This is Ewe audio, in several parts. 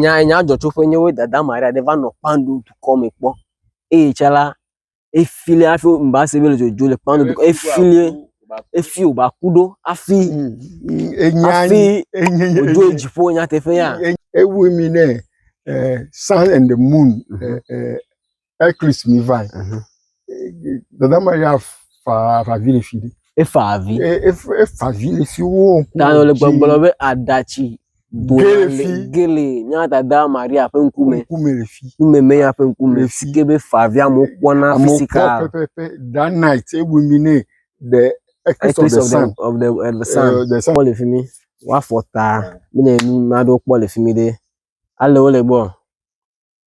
nya nya dzɔ tso ƒe nyewo dada maria ɖe va nɔ kpando dukɔ me kpɔ eye tsã la efili hafi ŋba se be ele dzodzo le kpando dukɔ efili efi wòva ku ɖo hafi hafi wòdzo yi dziƒo nyateƒea. Ewɔe mi nɛ eh, sun and the moon eh, eh, Eclipse mi vai. Mhm. Dada ma ya fa fa vi le fi de. E fa avi. E e f- e fa vi le fi wo. Ta le gbɔgblɔ be aɖatsi dona Gele le fi. gele nya dada Maria ƒe ŋkume. Ŋkume le fi. Ŋkume me ya ƒe ŋkume. Le fi. Si ke be fa avi amewo kpɔna Amewo kpɔ fisika. pɛpɛpɛ that night e win mi ne the Eclipse of Eclipse the of the sun. of the of the sun. Eh, the sun. Kpɔ le fi mi. Woafɔ ta. Mi ne nu naɖewo kpɔ le fi mi ɖe. Ale wo le gbɔ.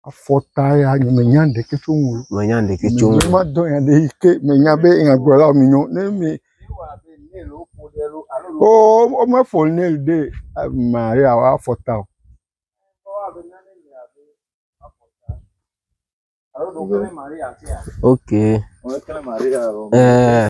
afɔta ya nye me nya ɖeke tso ŋu. Me nya ɖeke tso ŋu. Me ma dɔ ya ɖe ke me nya be nya gblɔ la me nyo ne me. O o me fɔ ne ɖe ma ya wa afɔta o. Ok. Ɛɛ.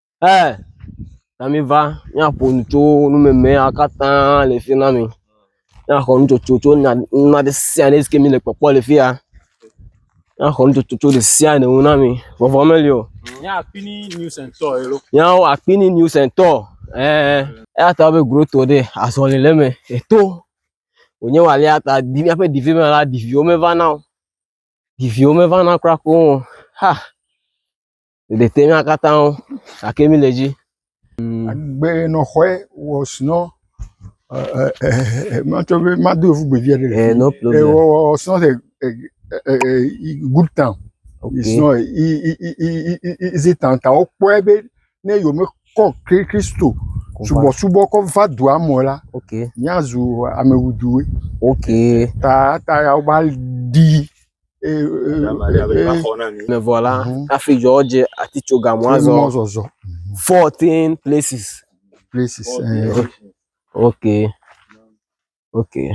Ɛɛ, na miva míaƒo nu tso numemea katã le fi na mi. Míaxɔ nutsotso tso nya nane ɖe sia ɖe si ke mile kpɔkpɔ le fi ya. Míaxɔ nutsotso tso ɖe sia ɖe ŋu na mi. Vɔvɔ meli o. Nya akpini news and tour elo. Nyawo akpini news and tour. Ɛɛ. Eya ta be groto ɖe azɔli le eme eto. Wònye walea ta di míaƒe divi me la, diviwo mevana o. Diviwo mevana kura koŋ o. Ha! ɖeɖe te na katã wo gake mí le edzi. Agbenɔxɔe wɔ srɔ̃ ɛɛ matsɔ be mado yevu gbe viɖe le eh, no problem. wɔ wɔ srɔ̃ le good town. Okay. Srɔ̃ i i i i izi town ta wokpɔe be ne yome kɔ Kristo subɔsubɔ kɔ va dua mɔ la. Okay. Míazu amewuduwe. Okay. Ta ta ya wova di. Vɔ la, hafi dzɔ dze atitsoga mɔzɔzɔ. Fourteen places. Places. Eh. Okay. Okay.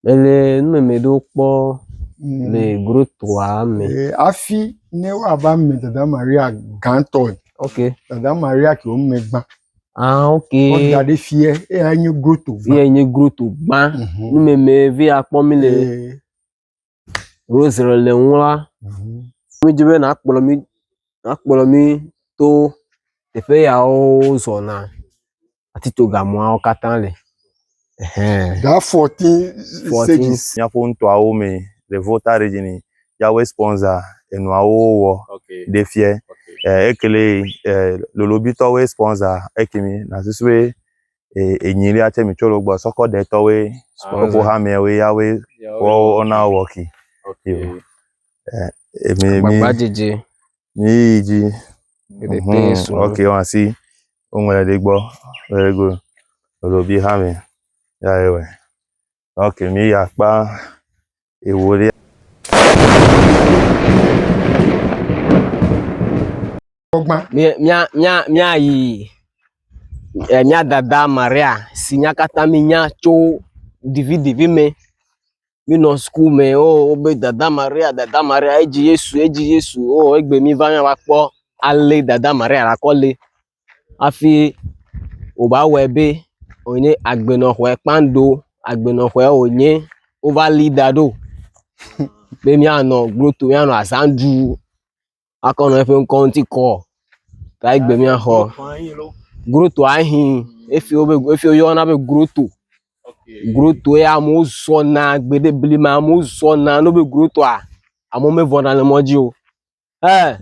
Ele numeme ɖewo kpɔ mm. le grotoa me. Eh, hafi ne woava me dada Maria gãtɔe. Okay. Dada Maria ke wo megba. Ah ok. Wodda ɖi fiɛ eya nye groto gbã. Fiɛ nye groto gbã. Mhm. Numeme vi akpɔ mi le rosre le ŋu la. Mhm. Mi dzi be na kplɔ mi na kplɔ mi to teƒe yawo zɔna atitsogamɔawo katã le. That 14 stages. Míaƒo nutoawo me le Volta region yi Yahweh sponsor enuawo wɔ ɖe fiɛ. Ekele lolobitɔwoe sponsor ekemi nasusu be enyi ɖe atsɛ mitsɔ lo gbɔ sɔkɔ ɖe tɔwoe kpɔkpɔ hamɛawoe Yahweh wɔ wɔnawo wɔ ki. Agbagba dzedze. Míeyi dzi. Ɖeɖe te Mhm, srɔ̃. Ok, wọn asi. Woŋlɔ ɖe ɖe gbɔ. Very good. Elo bi ha me. Ya ye wɛ. Ok, mi ya kpa ewo ɖe. Gbɔgbã. Mía mía mía míayi e, mía dada Maria si nya katã mínya tso ɖiviɖivi mɛ Míenɔ sukuu me wo wobe dada Maria dada Maria edzi Yesu edzi Yesu o egbe míva nya va kpɔ ale dada Maria nakɔ le hafi wòva wɔe be wònye agbenɔƒe kpando agbenɔƒe wònye wova li da ɖo be míanɔ glo tom míanɔ azã ɖum. akɔ nɔ eƒe ŋkɔ ŋuti kɔ kae gbe míaxɔ. Groto ahi efi wobe efi woyɔna be groto. Groto ya amewo zɔna gbeɖe blema amewo zɔna ne wobe grotoa amewo mevɔna le mɔ dzi o. Ɛ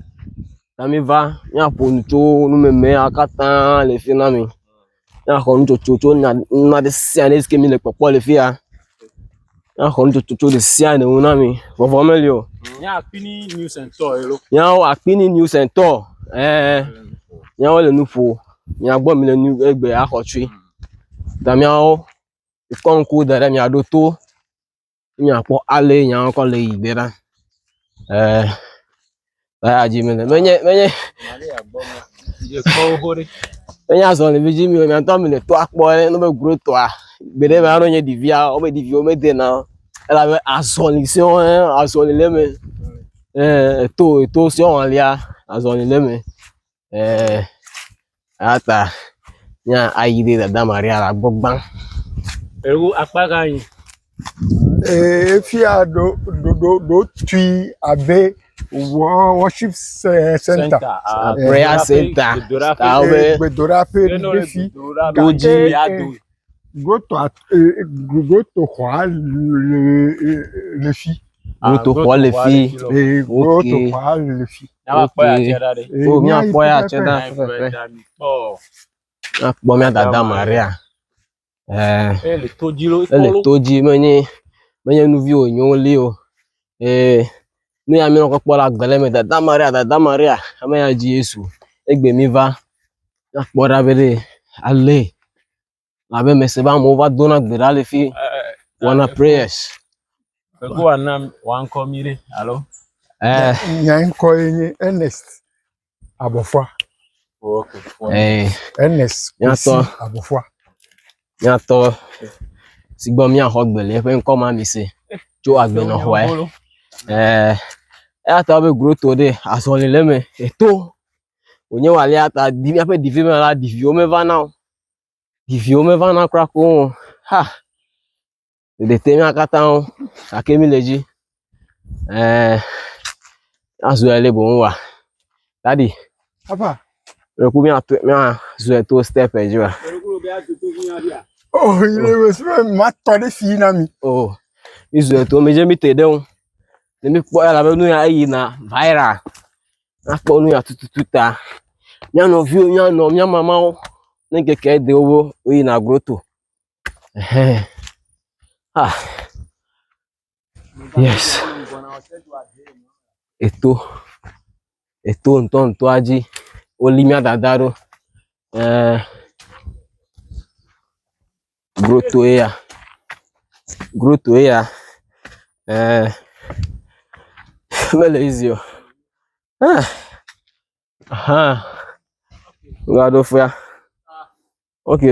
na miva míaƒo nu tso numemea katã le fi na mi. Ne axɔ nutsotso tso nya nane ɖe sia ɖe si ke mele kpɔkpɔ le fi ya. Ne axɔ nutsotso tso ɖe sia ɖe ŋu na mi. Vɔvɔ meli o. Nya akpi ni news and tour elo. Nyawo akpi ni news and tour. Ɛɛ. Nyawo le nu ƒo. Nya gbɔ mi le nu egbe axɔ tsui. Ta miawo kɔ ŋku da ɖe mia ɖo to. míakpɔ ale nya kɔ le yi gbe ɖa. Ɛɛ, baya dzi mele. Menye, menye, menye azɔlɛvi dzi mi o, miatɔ mi le tɔa kpɔ ɖe ne be gro tɔa. Gbeɖe me anɔ nye ɖevia, wobe ɖeviwo medena o. Elabe azɔli sɛ̃ɔ ye azɔli le eme. Ɛɛ, eto, eto sɛ̃ɔ alia, azɔli le eme. Ɛɛ, eya ta míayi ɖe dada Maria la gbɔ gbã. Ewo akpa gã yi. Ee, fia ɖo ɖo ɖo ɖo tui abe wɔ- worship ce- center. Ah, prayer center. Gbedoɖaƒe. Abe Gbedoɖaƒe. gbedoɖaƒe Gbedoɖaƒe. ɖe fi. Gbedoɖaƒe. Gake, Wodzi. eh, Mia do. Gotoa ee gotoxɔa le fi. Gotoxɔ le fi. Ee gotoxɔa le fi. Nyakpɔ ya tse ɖa ɖe. O nyakpɔ ya tse ɖa fefefe. Nyakpɔ mía dada Maria. Ɛɛ. Ele to dzi lo. Ele to dzi menye menye nu vi wònye woli o. Ee nu ya mía kpɔkpɔ le agbe le me dada Maria dada Maria ame ya dzi Yesu egbe mi va. Akpɔ ɖa be ɖe ale abe mese be amewo va dona gbe ɖa le fi wɔna prayers. Yehowa na wankɔ mi ɖe alo. Eh, Nya ŋkɔ ye nye Ernest Abɔfɔa. eh, Ernest Nyatɔ. Kwesi Abɔfɔa. miatɔ si gbɔ miaxɔ gbe le eƒe ŋkɔ ma mi se tso agbenɔxɔe. Eh, eya ta be groto ɖe azɔli le eme eto wònye wòalea ta di míaƒe divi me la, diviwo mevana o. Diviwo mevana kura koŋ o. Ha! Ɖeɖe te mía katã ŋu gake míle edzi. Ɛɛ, azu ele boŋ wa. Dadi, Papa, ɖe ku míatu míazu eto step dzi wa. oh, yi le wes be matɔ ɖe fi na mi. Oh, mízu eto, medze mí te ɖe ŋu. Ne míkpɔ elabe nu ya eyina viral. nakpɔ nu ya tututu ta. Mía nɔviwo, mía nɔ, mía mamawo, ne ŋkeke ɖe wo be woyina goto ehɛ ah yes eto eto ŋutɔŋutɔa dzi woli mía dada ɖo. Eee. grotoe ya, grotoe ya eee mele easy o eeh ahaa wova ɖo ƒea ok.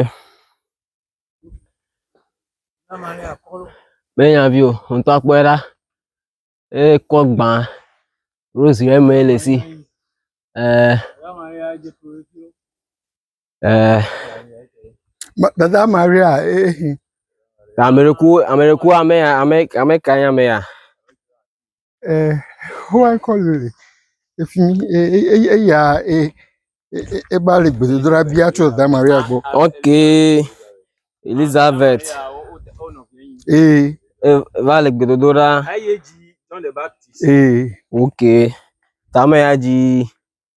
Menya vi o ŋutɔ kpɔe ɖa eye kɔ gbã rosy eme le si eee. ɛɛ. Dada Maria ehi. Ameɖeku ameɖeku ame ya ame ame ka nye ame ya? Ɛɛ xɔa kɔ le efi mi eye eya e eva le gbedodoɖa bia tso dada Maria gbɔ. Okay Elizabeth. Ee. Eva le gbedodoɖa. Ee. Okay. Tame ya dzi.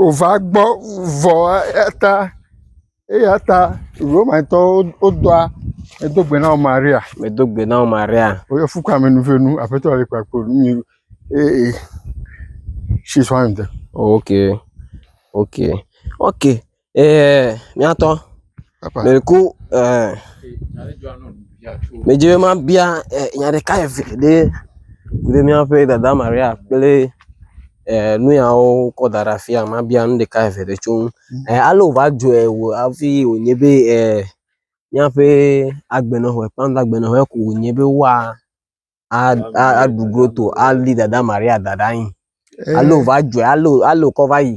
wova gbɔ vɔ eya ta eya ta Romatɔwo wodoa medo gbe na wò Maria. Medo gbe na wò Maria. Woyɔ fu kame nu ƒe nu aƒetɔ le kpakpo nu mi ee she is one of them. ok ok ok ɛɛ miatɔ meko ɛɛ medze be mabia ɛ nya ɖeka eve ɖe ku ɖe miaƒe dada Maria kple. nuyawo kɔ da ɖe afia mabia nu ɖeka eve ɖe tso ŋu. Mm. Eh, ale wòva dzɔe wò hafi wònye be eh, míaƒe agbenɔƒe, kpanda agbenɔƒe ko wònye be woa aɖu groto ali dada Maria da ɖe anyi. Eh. Ale wòva dzɔe, ale wò- ale wòkɔ va yi.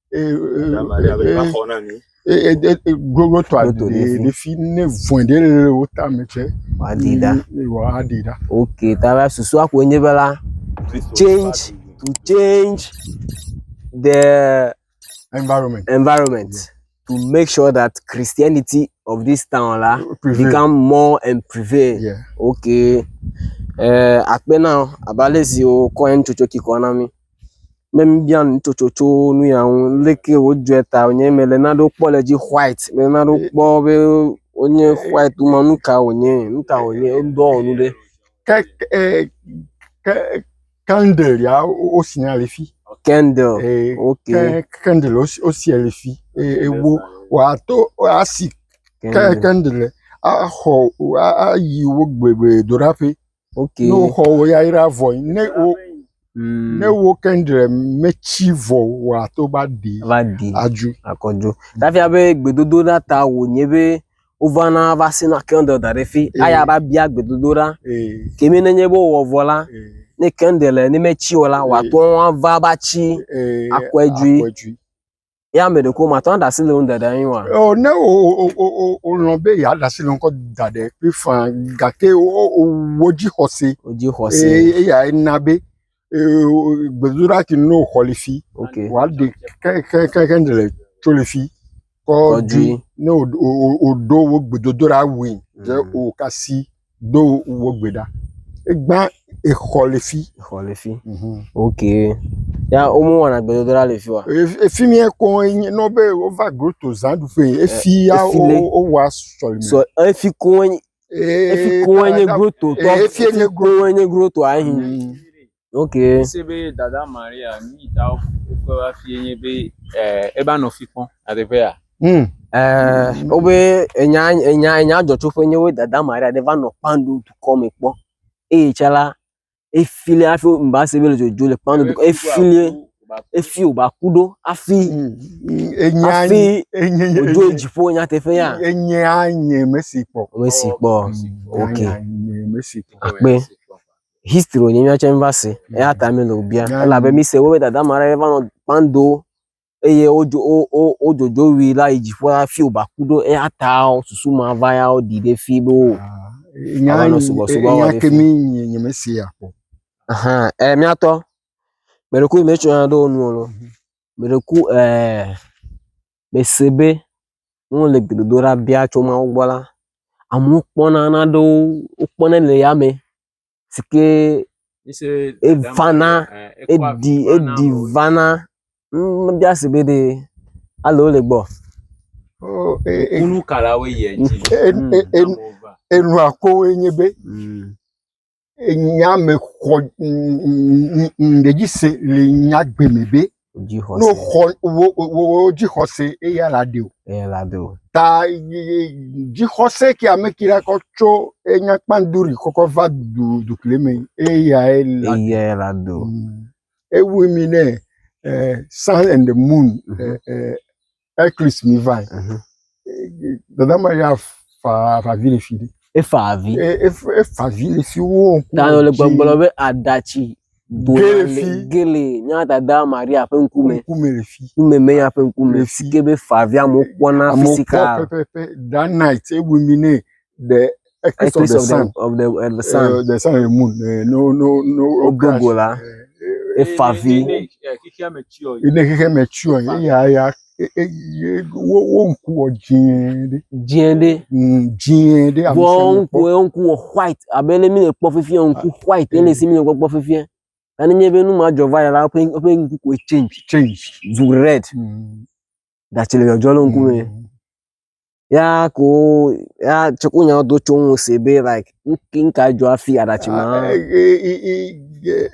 glogotɔ ɖefi ne vɔe ɖe le wo tame tsɛ woaɖii ɖa woaɖii ɖa ok ta la susua koe nye be la to change to change the environment environment to make sure that Christianity of this town la prevail. become more and prevail yeah. ok uh, akpe na abalezi wo kɔ en tsotso kikɔ na mi Ne mibia nu tsotso tso nu ya ŋu, leke wodzɔe ta wònye, mele nanewo kpɔ le edzi white, mele nanewo kpɔ be wonye white woma nu ka wònye, nu ka wònye, wodɔ wɔ nu ɖe. Ke ke eh, ke candle ya wo- wo- wosia le fi. Candle, Eh, ok, Ke candle wosi- wosia le fi. Eh, ewo wòato asi ke candle, candle axɔ ayi wo gbedoɖaƒe. Okay. Ne woxɔ wò yayra vɔe, ne wo Mm. ne wo kendre metsi vɔ wòa to va ɖi va ɖi adzu. akɔdzo. Ɖafia be gbedodoɖa ta wònye be wovana va sina kɛndel da ɖe fi. Ee. Aya va bia gbedodoɖa. Ee Kemi nenye be wowɔ vɔ la, ee ne kɛndel ne metsi o la, Ee. wòate ŋu ava va tsi. ee Akɔe dzui. akɔe dzui. ye ame ɖeko màtɔ aɖe asi le ŋu ɖaɖa anyi wa. Ɔ, ne o o o o o lɔn be ya ɖe asi le ŋkɔ da ɖe ƒe fa gake o o o wo dzi xɔse. O dzi xɔse. Eye eya ena be ee gbedoɖa ti no xɔ le fi. Ok. Wa ɖe ke ke ke ke ne le tso le fi. Kɔ dui. Ne o o o o ɖo wo gbedodoɖa wui. Dze o kasi. Do wò gbe ɖa. Egba exɔ le fi. Exɔ le fi. Ok. Ya wo me wɔna gbedodoɖa le fi wa? Efi mi ekɔ enye nɔ be wo va groto zã ɖu ƒe. Efi ya wo wa sɔleme. Sɔ efi ko enye. Efi ko enye groto tɔ. Efi enye groto. Efi ko enye groto ayi. Okay. Ese be dada Maria nu yi ta wokpe va fie nye be eh, eva nɔ fi kpɔm le teƒea. Hmm. Eh, wobe enya enya enya dzɔtsoƒe nye wo dada Maria ɖe va nɔ kpando dukɔ me kpɔ eye tsã la efilie hafi mba se be le dzodzo le kpando dukɔ efilie efi wòba ku ɖo hafi Hmm. Enya hafi enye wòdzo enye dziƒo nyateƒe ya enye anye mesi kpɔ. ame si kpɔ ok Enya nye mesi kpɔ. akpe history wònye míawo tsɛ míva se. Eya ta míele wò bia. Míale- Elabe míse wo be dada ma ɖe va nɔ kpando eye wodzo wo wo wodzodzo wui la yi dziƒo la fiwo ba ku ɖo eya ta wo susu ma va ya woɖi ɖe fi be wo. Ah, nya Ava nɔ yi- sugbɔ- sugbɔ nya wɔ ɖe ke fi. mi nye nyemese ya kpɔ. Ahan e míatɔ. Mɛɖeku yi metsɔna ɖe wo nu o lɔ. Mɛɖeku ɛɛ mese be ne wole gbedodoɖa bia tso Mawu gbɔ la, amewo kpɔna nanewo, wokpɔnɛ le yame si ke evana, eɖi, eɖi vana. Ŋ mebia ese be ɖe ale wole egbɔ. Enu ka la woyia edzi. Enua koe nye be enya me xɔ ŋɖe dzi se le nya gbe me be ne xɔ wo dzixɔse eya la ɖeo eya la ɖeo ta dzixɔse ke ame ke la kɔ tso enya kpanduri kɔkɔ va du dukle me eya la eya la ɖeo mm. ewu mi ne uh, sun and the moon uh, uh, Eclipse mi vai. Mhm. Eh, Dada ma ya fa fa vi le fi ɖe. Efa avi. E- ef- Efa vi le fi wo ŋku. Ta le gbɔgblɔ be aɖatsi do Ge le fi. le gele mía dada Maria ƒe ŋkume. Ŋkume le fi. Ŋkume me ya ƒe Le ŋkume. fi. Si ke be fa avia amewo kpɔna Amewo kpɔ fisika. pɛpɛpɛ that night ewu mi nɛ the eclipse of the sun of the, of the sun. Uh, the sun and moon. Uh, no, no, no. Ogogo la. Efavi. Ne xexea me tsyɔ ye ya ya wo wo ŋku wɔ dzɛɛ ɖe. Dzɛɛ ɖe. Dzɛɛ ɖe. Vɔ ŋku wo ŋku wɔ white abe ne mi le kpɔ fifia ŋku ah, white ne le si mi le kpɔ fifia. Ani nye be nu ma dzɔ va yɛ la woƒe woƒe ŋku koe change. Change. Zu red. Datsi le dzɔdzɔ le ŋku me. ya ko wo ya tsɔ wo nyawo do tso ŋu se be like nu ki nu ka dzɔ afi aɖatsi ma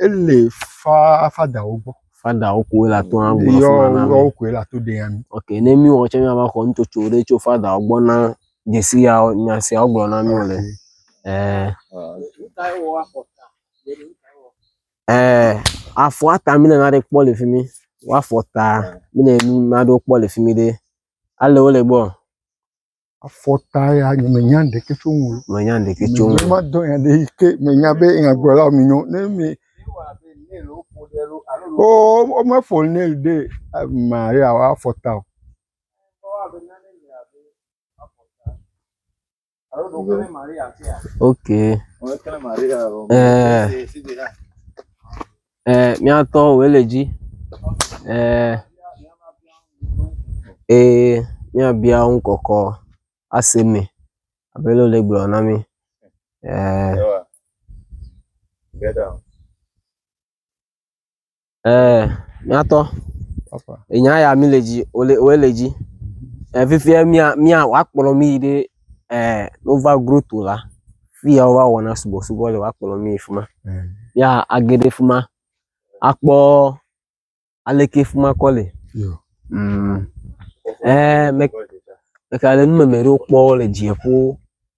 ele fa fadawo gbɔ fadawo koe le ato na gblɔ yɔ fima na mi yɔ koe le ato de ya mi ok ne mi wɔ tsɛ miava xɔ nutsotso ɖe tso fadawo gbɔ na dzesi ya nya sia wogblɔ na mi wole ɛɛ ɛɛ afɔa ta mi le na ɖe kpɔ le fi mi woafɔ ta mi le nu na ɖewo kpɔ le fi mi ɖe Ale wole gbɔ. Afɔta ya nye menya ɖeke tso ŋu. Menya ɖeke tso ŋu. Mema dɔ ya ɖe ke menya be nya gblɔ la mi nyɔ. Ne mi. Oo wo me fɔ ne ɖe ma ya wa afɔta o. ok ɛɛ míatɔ wòye le dzi ɛɛ ee míabia ŋu kɔkɔ ase me abe lele gblɔ na mi ɛɛ. Ɛɛ, míatɔ. Enya ya mi le dzi, wole woe le dzi. Ɛɛ, fifia mía mía woakplɔ mí yi ɖe ɛɛ Nova Grotto la. Fi ya wova wɔna subɔsubɔ le woakplɔ mí yi fi ma. Ya age ɖe fi ma akpɔ aleke fi ma kɔ le. Yo. Mm. Ɛɛ, me meka ɖe numeme ɖewo kpɔ le dziƒo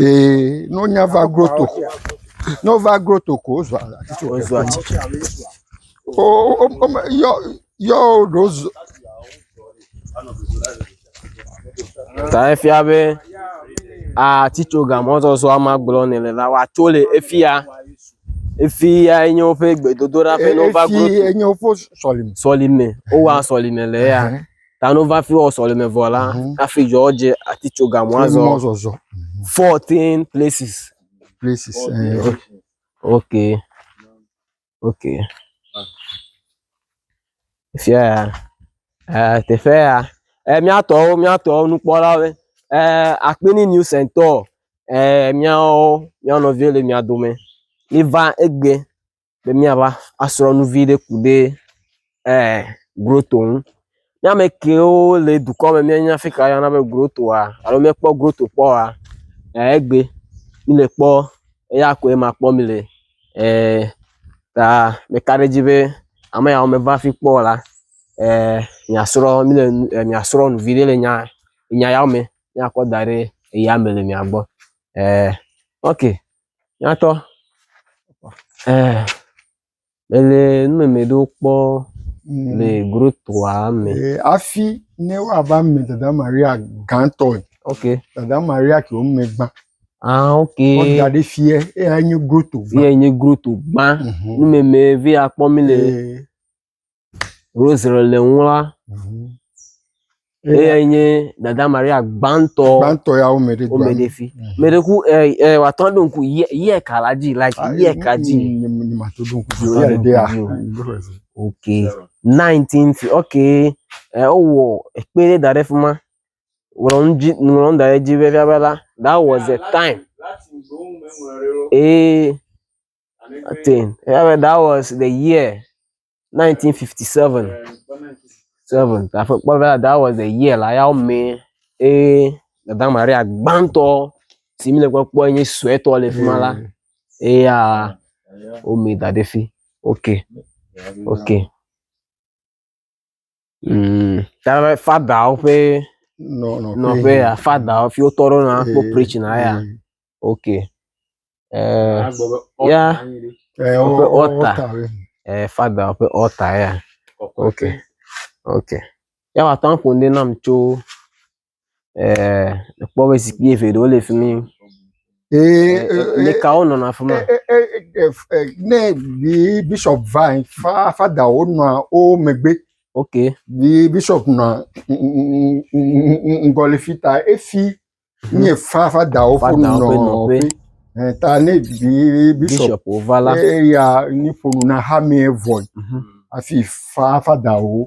Ee, ne wonya va groto ko, ne wova groto ko wozua atitso. Wozua atitso. O o o me yɔ yɔ ɖo zu. Ta efia be atitso gamɔzɔzɔa ma gblɔ ne le la woatso le efia. Efia enye woƒe gbedodoɖa ƒe ne wova groto. Efi enye woƒe sɔlime. Sɔlime wowa sɔlime le eya. Tano va fi wɔ sɔleme vɔ la, mhm. hafi dzɔ dze ati tso gamɔ azɔ. Mɔ zɔzɔ. Mhm. Fourteen places. Places. Eh. Ok. Ok. Fia ya. Eh, teƒe ya. Eh, miatɔwo, miatɔwo nukpɔlawo. Eh, akpini new center. Eh, miawo, miawo nɔvi le mia dome. Miva egbe. be míava asrɔ̃ nu vi ɖe ku ɖe ɛɛ goto ŋu. Ne ame kewo le dukɔ me míenya afi ka woyɔna be gotoa alo míekpɔ goto kpɔ oa, ɛɛ egbe míle kpɔ eya koe ma kpɔ mi le. Ɛɛ ta meka ɖe edzi be ame yawo meva fi kpɔ o la, ɛɛ mìasrɔ̃ mí le nu ɛɛ mìasrɔ̃ nu viɖe le nya nya yawo me. Míakɔ da ɖe eyame le mia gbɔ. Ɛɛ ok nyatɔ ɛɛ mele numɛmɛ ɖewo kpɔ le grotoa me. Ee, hafi ne woava me dada Maria gãtɔe, Ok. dada Maria ke wome gbã. Ah ok. Woda ɖe fiɛ, eyae nye groto gbã. Eyae nye groto gbã. Mhm. Numɛmɛ ve akpɔ mi le Ee, Rosary le ŋu la, eyae nye Dada Maria gbãtɔ gbãtɔ ya wo me ɖe dua me. womeɖefi. Mhm. Me ɖe ku ɛ ɛ wòatɔ ɖo ŋku yɛ yɛ ka la dzi like Ah, yɛ ka dzi. mm, mm, mm, ma to do ŋku Atɔ ya ɖo ɖe ya. ŋku dzi o. Mm, go ahead. Ok. 19 fi ok ɛ wowɔ ekpe ɖe da ɖe fi ma. Ŋlɔ nu dzi ŋlɔ nu da ɖe edzi be fia be la that was the time. Eye I think yeah, but that was the year 1957. Seven. Aƒe kpɔ be that was the year la yawo mee eye dada Maria gbãtɔ si mi le kpɔkpɔ nye suetɔ le fi ma la eya wome da ɖe fi. Okay. Okay. Mm, tabe fadawo ƒe nɔ nɔ nɔƒe ya fadawo fi wotɔ ɖo na kpɔ preach na ya ok eh, Agbɔ be Ya. ɔta anyi ɖi. ɛ o Woƒe o altar. ɔta we eh, fadawo ƒe ɔta ya Kɔkɔe. ok ok ya wòate ŋu aƒo nu ɖi nam tso eh, kpɔ be zikpui eve ɖewo le fi mi. Meka wo nɔnɔ afi ma. Ne bi bishop va yin, fa fada wo nɔa wo megbe. Ok. Bi bishop nɔa ŋgɔ le fi ta efi nye fa fada wo ƒe nɔƒe. Ta ne bi bishop wova la, eya ni ƒonu na hame vɔe. Afi fa fada wo.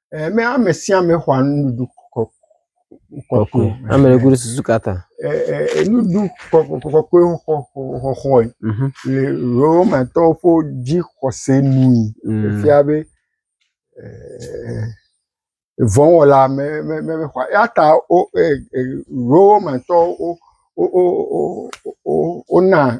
Eme ame sia ame xɔa nuɖuɖu kɔ kɔkɔe. Ame ɖe kuɖo susu kata. Ee nuɖuɖu kɔkɔkɔkɔe xɔxɔxɔxɔe mhm. le Romatɔwo ƒe dzixɔse nui. Mm. Efia be vɔ̃wɔla me me me xɔa eya ta wo Romatɔwo wo wo wo wo wona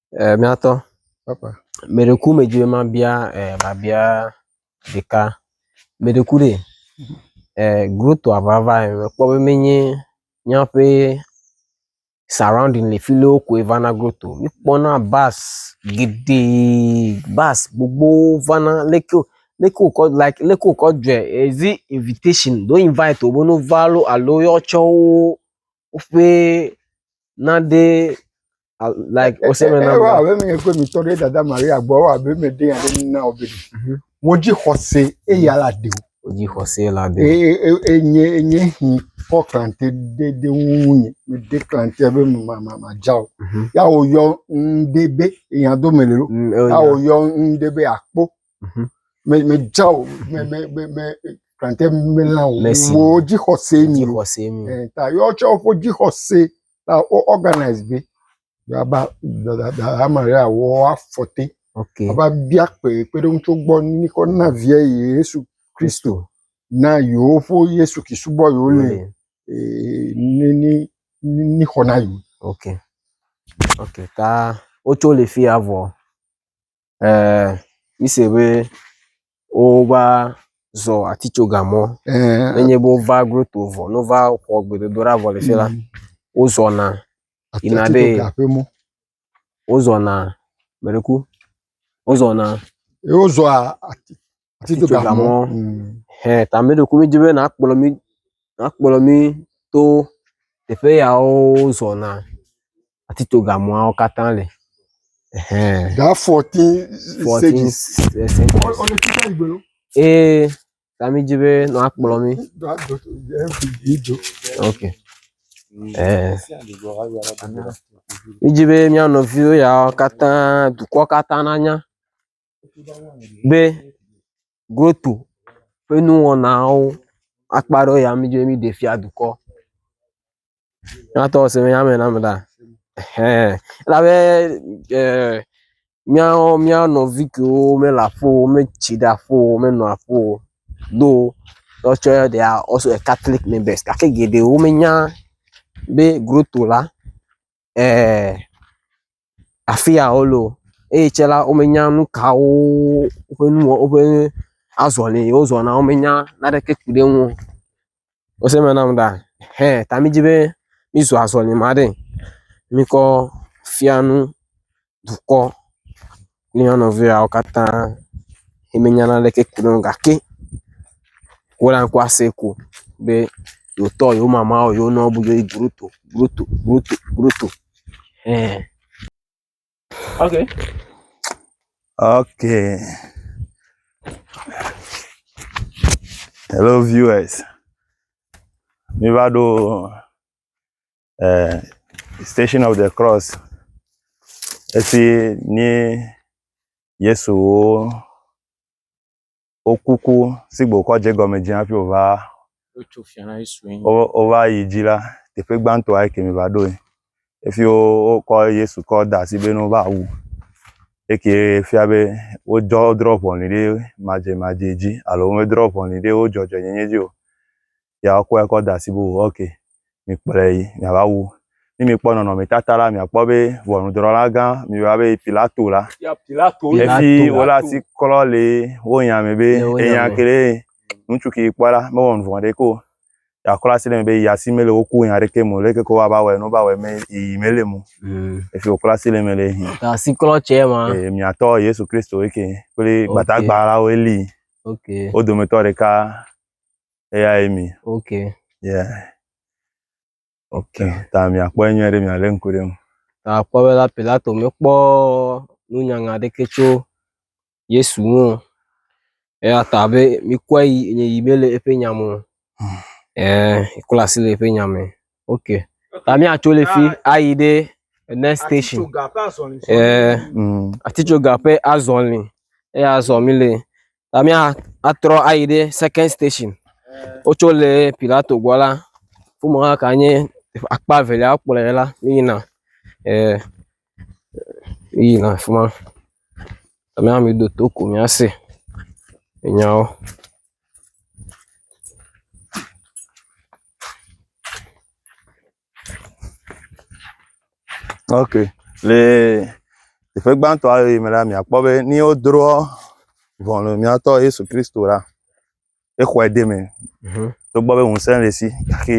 Eh, miatɔ. Papa. Meɖeku medzi be mabia eh, babia ɖeka. Meɖeku ɖe. Eh, groto avava eh, mekpɔ be menye míaƒe surrounding le fi lewo koe vana groto. Míkpɔna bus geɖe, bus gbogbo vana leke wo leke wokɔ like leke wokɔ dzɔe. Is it invitation? Do invite wo be no va lo alo wotsɔ wo woƒe naɖe al- like ɔsɛ me na Ewɔ abe menye kple mi tɔ ɖe dada Maria gbɔ ewɔ abe meɖe ya ɖe nu na wò be ɖe. Mhm. Wò dzi xɔse eye ala ɖe wò. wodzi xɔse la de Eye eye- enye enye hi kɔ klãte ɖe ɖe ŋunye. Meɖe klãte be ma ma madza o. Mhm. Ya wòyɔ ŋɖe be ehiãdo mele ɖo. Mm, Ya ewɔ wòyɔ ŋɖe be akpo Mhm. me me dza o me me me me krantɛ me la o Le si- wo dzixɔse mi o Dzixɔse mi. Eh, ta yɔ tsɛ woƒe dzixɔse ta wo organise be yaba dada maria wɔ afɔte Ok. ava bia kpe kpeɖeŋu tso gbɔ ni kɔ na viɛ yesu kristo na yewoƒe yesu ki subɔ yewo le Wole. eh, ni ni ni ni xɔ na yewo Ok. Ok. Ta wotso le fi ya vɔ. Ɛɛ, mise be wova zɔ atitsoga mɔ. Ɛɛ. Nenye be wova groto vɔ, ne wova xɔ gbedodoɖa vɔ le fi la, mm. wozɔna yina ɖe wozɔna meɖeku wozɔna. Wozɔa atitsogamɔ hẽ ta mí ɖokui mí dzi be nàkplɔ mí nàkplɔ mí to teƒe yawo zɔna atitsogamɔawo katã le ehẽ. That fourteen Fourteen stages. stages. Ɔ- ɔ- ɔ- títí ìgbè ló. Ee ta mí dzi be nàkplɔ mí. That dot- that video. Ok. Ɛɛ. Mí dzi be mía nɔviwo yawo katã dukɔ katã nanya be GROTO ƒe nuwɔnawo akpa ɖewo ya mí dzo mí ɖe fia dukɔ. Nyateƒe se be nya me na me ɖa? Ehɛn. Elabe ɛɛ míawo mía nɔvi kewo mele aƒe o, metsi ɖe aƒe o, menɔ aƒe o do woatsɔ ya ɖea woasu ekatlikimɛnbɛsi gake geɖewo menya be GROTO la. eeee afia wole o eye tsɛ la, womenya nu kawo woƒe nu wɔ woƒe azɔli yi wozɔna womenya naneke ku ɖe eŋu o. Ese me nam ɖa hɛ ta midi be mizu azɔlime aɖe mikɔ fia nu. dukɔ kple mía nɔviwo katã si menya naneke ku ɖe eŋu o gake wole ŋkɔ asem ko be yewotɔ, yewo mama, yewo nɔwo bu yewo tutu, tutu, tutu, tutu eer ok ok hello viewers, míva ɖo. eh, Station of the Cross, esi nye Yesu wo wokuku si gbe wokɔ dze gɔme dzi hafi wòva wotso fia na Yesu ŋu. wo- wova yi dzi la, teƒe gbãtɔa eke mi va ɖoe. Efi wo- wokɔ Yesu kɔ da asi be ne wova wu. Eke fia be wodzɔ wodrɔ ʋɔnu ɖe madzemadze dzi alo womedrɔ ʋɔnu ɖe wo dzɔdzɔenyenye dzi o. ya woakɔe kɔ da asi be o ok mikplɔe yi miava wu. Ne mikpɔ nɔnɔmetata la miakpɔ be ʋɔnudrɔ̃lagã miyɔna be Pilato la efi wole asi klɔ le wo nya me be enya kee ŋutsu ke kpɔ la mewɔ nu vɔ̃ ɖeke o. Yeaklɔ asi ɖe me be yi asi mele wo ku nya ɖeke me o leke ke woava wɔe ne wova wɔe me yi mele eme o. Mm. Efi wòklɔ asi le me le yi. Asiklɔ tsɛ ma. Ee miatɔ Yesu Kristo eke kple gbadagba la wo Eli. Okay. Wo dometɔ ɖeka eyae mi ok yeah ok ta miakpɔ enyuie ɖe mialé ŋku ɖe ŋu ta kpɔ be la pilato mekpɔ nunyanya ɖeke tso yesu ŋu eya ta be mikɔe yi nye yi mele eƒe nya me o ee kpla asi le eƒe nya me ok ta míatso le fi ayi ɖe next station ee mm, atitsoga ƒe azɔli eya azɔ mi le ta míatrɔ ayi ɖe second station wotso le pilato gbɔ la wome hã ka nye akpa evelia wokplɔe la míyina ee míyina afi ma ta míame do to ko míase nyawo. Ok, le teƒe gbãtɔ aɖe yi me la, miakpɔ be ne wodroa ʋɔnu miatɔ Yesu Kristo la, exɔe de eme. Togbɔ be ŋusẽ le esi gake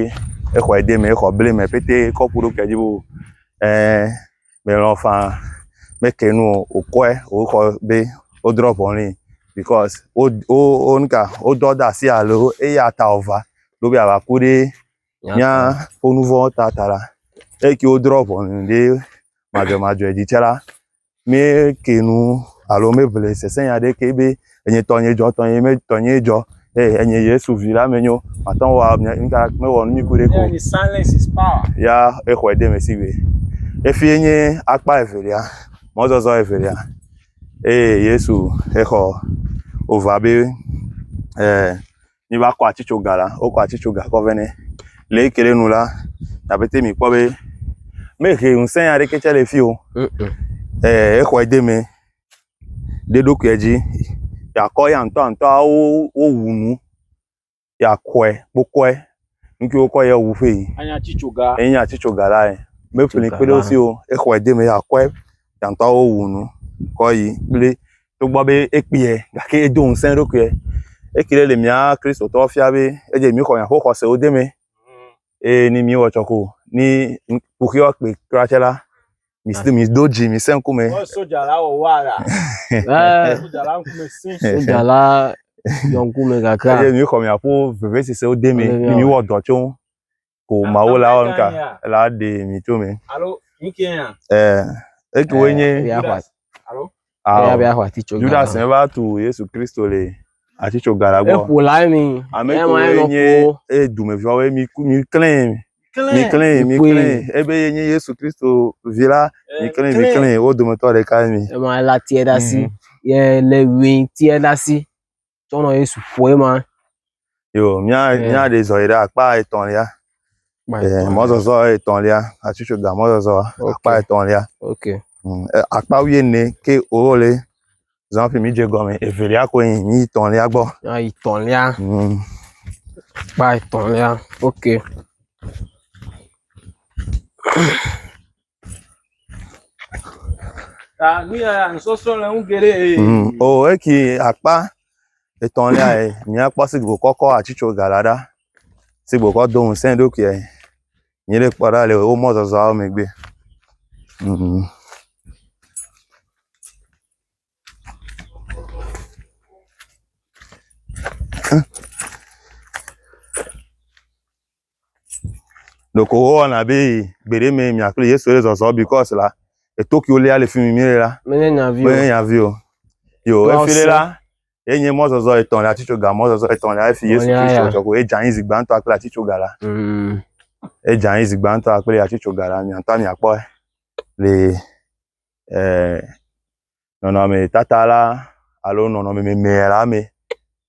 exɔe de eme, exɔ ble eme pɛtɛ kɔ ku ɖokuia dzi be o ɛɛ melɔ̃ ƒaa, meke nu o, wòkɔe wòxɔ be wodrɔ̃ ʋɔ nɛ bikɔs wo wo wo nuka wodɔ de asi alo eya ta wòva ɖo be yeava ku ɖe míaƒe nu vɔ̃wo ta ta la, eyike wodrɔ̃ ʋɔnu ɖe madzɔmadzɔe dzi tsɛ la, míekee nu alo míeŋlɔe sesẽnya aɖeke be. enye tɔnye dzɔ tɔnye me tɔnye dzɔ eye enye yesu vi la me nyo mate ŋu wa nuka mewɔ nu nyui kuɖe ko ya exɔe de me si be efi nye akpa evelia mɔzɔzɔ evelia eye yesu exɔ ova be eh, mi va kɔ atitsoga la wokɔ atitsoga kɔ vɛ nɛ le yi ke ɖe nu la nabete mi kpɔ be mehe ŋusẽ aɖeke tsɛ le fi o eh, exɔe de me ɖoɖokuia dzi yeakɔ ya ŋutɔ ŋutɔ wo wu nu yakɔe kpokɔe ŋke wokɔ ya wu ƒee yi enye atitsoga enye atitsoga la ye meƒle kpe ɖe wo si o exɔe de me yakɔe ya ŋutɔ wo wu nu kɔ yi kple togbɔ be ekpuiɛ gake edo ŋusẽ eɖokuiɛ eke ɖe le mía kristotɔwo fia be edze mí xɔ mía ƒe xɔsewo de eme eye ne mí wɔ tsɔ ko ne kuxi woakpe kura tsɛ la Mido mido dzi mi se ŋkume. Wɔ soja la wɔ wa la. Eh. Soja la ŋkume si. Soja la yɔ ŋkume kakra. Eye mi xɔ mi aƒo veve sese wo de mi ni mi wɔ dɔ tso ko mawo la wɔn ka la de mi tso mi. Alo mi ke ya. Eh. Eke wo nye. Alo. Eya be axɔ atitsoga. Judas ne va tu Yesu Kristo le atitsoga la gbɔ. Eƒo la mi. Ame kɔe nye eye dumeviwawoe mi mi klɛn. Mi klɛn mi klɛn ebe ye nye Yesu Kristo vi la mi klɛn mi klɛn wo dometɔ ɖeka mi. Ema la tiɛ ɖe asi. Yɛ le wi tiɛ ɖe asi. tsɔ nɔ Yesu ƒoe ma. Yo, mía eh. mía ɖe zɔ yi ɖe akpa etɔ̃lia. Eh, mɔzɔzɔ etɔ̃lia, atsutsɔ ga mɔzɔzɔ okay. akpa etɔ̃lia. Okay. Mm, eh, akpa wuie ne ke o le zan fi mi dze gɔme evelia ko yin mi tɔlia gbɔ ayi tɔlia mm kpa tɔlia ok Ah, nu ya nusɔsrɔ̃ le ŋu geɖe. Mm, o oh, eki akpa etɔ̃lia ye míakpɔ si gbokɔ kɔ atsitso gala ɖa si gbokɔ do ŋusẽ ɖokuiɛ nyi ɖe kpɔ ɖa le wo mɔzɔzɔawo megbe. Mm. Huh? Ɖeko wowɔna be gbeɖe mee mia kple Yesu le zɔzɔm because la eto kiwo lia le fi mi mie la. Menye nya vi o. Menye nya vi o. Yo efi le la ye nye mɔzɔzɔ etɔ̃ le atitsoga mɔzɔzɔ etɔ̃ le efi Yesu Kristo tsɔ ko edza anyi zi gbãtɔ kple atitsoga la. Mm. Edza anyi zi gbãtɔ kple atitsoga la miatɔ miakpɔ le eh nɔnɔme tata la alo nɔnɔme meme la me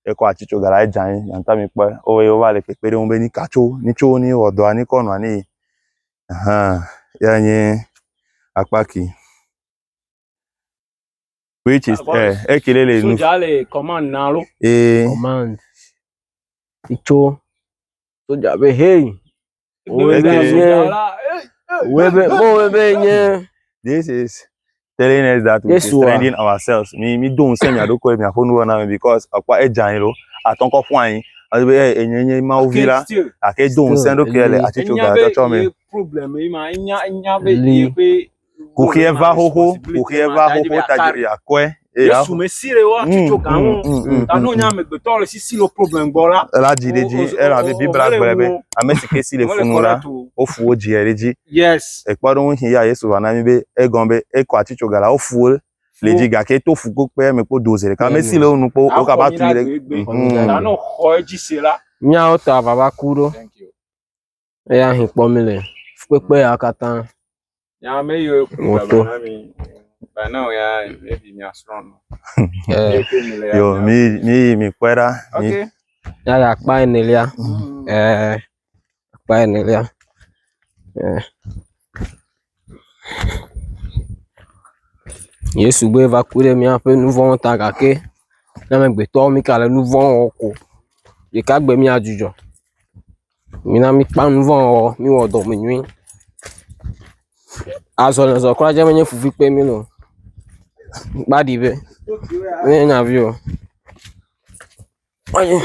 ye kɔ atsi tso ga la edza anyi nata mi kpɔe o ye wova le kpekpe ɖe ŋu be nika tso ni tso ni wɔ dɔa ni kɔ nɔa ni ahan ya nye akpa ki which is ɛ eh, eke ɖe le nu soja le command na lo ee eh. command tso soja be hey Wòe be Okay. nye, wòe be, wòe be nye, This is telling us that we should Yesua. strengthen ourselves. Mi mi do ŋusẽ mia ɖokuiwo miaƒo nuwo na mi because ekpɔ edza anyi ɖo atɔ ŋkɔ ƒu anyi. Edi be "Ei, enye nye Mawu vi la Still, gake do ŋusẽ ɖokuia le atsitso enya be gatsɔtsɔ me. ye problem ye ma, enya enya be Li. yeƒe Kuxia va xoxo, kuxia va xoxo, tajiri akɔe. Yesu me si ɖe wa tu tso gan ŋu. Ta no nya amegbetɔ le si si lo problem gbɔ la. Ela dzi ɖe dzi, ela be Biblia gblɔe be ame si ke si le funu la, wofu wo dzi ɖe dzi. Yes. Ekpɔ ɖo ŋu ya Yesu va na mi be egɔn be ekɔ ati tso gan la wofu wo le dzi gake to fu kokpe me kpo doze ɖeka. Ame si le wo nu kpo wo ka ba tu ɖe. Ta no xɔ edzi se la. Nyawo ta vava ku ɖo. Eya hĩ kpɔ mi le fukpekpe ya katã. Nyame yiwo ku baba na mi. Bana o ya ebi mi asrɔ̃ nɔ. Yo mi mi yi mi kpɔe ɖa. Ok. Ya ya akpa enelia. Ɛɛ akpa enelia. Ɛɛ. Yesu be va ku ɖe míaƒe nu vɔ̃wo ta gake ne amegbetɔwo mi ka le nu vɔ̃ wɔm ko ɖeka gbe míadzudzɔ. Mina míkpã nu vɔ̃ wɔwɔ, míwɔ dɔmenyui. Azɔlizɔ kura dze menye fufu kpem míele o. Kpɔ aɖi be menye nya vi o. Ɔyi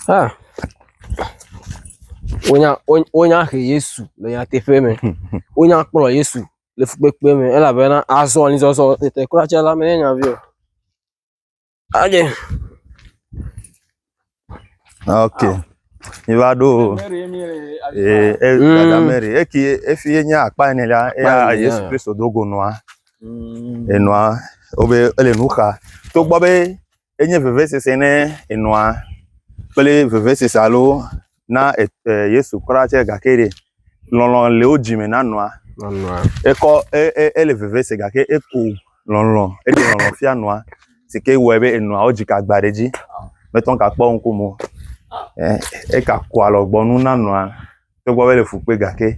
ha wonya wo wonya he Yesu le nyateƒe me. Wonya kplɔ Yesu le fukpekpe me elabena azɔlizɔzɔ tetekura tsɛ la menye nya vi o. Aje. Ok. Mi va ɖo o. Ee, e, Mm. dada Mary, eki efi ye nye akpa ene la, eya Akpa ene, Yesu ya. Kristo do go nɔa, enɔa, wobe ele nu xa. Togbɔ be enye vevesese ne enɔa kple vevesese alo na e e Yesu kura tsɛ gake ɖe lɔlɔ̃ le wo dzime na nɔa? Na nɔa. Ekɔ e e ele veve se gake eko lɔlɔ̃ eɖe lɔlɔ̃ fia nɔa si ke wɔe be enɔa wodzi ke agba ɖe edzi mete ŋu gakpɔ ŋkume o. E eka ku alɔgbɔnu na nɔa togbɔ be ele fu kpui gake.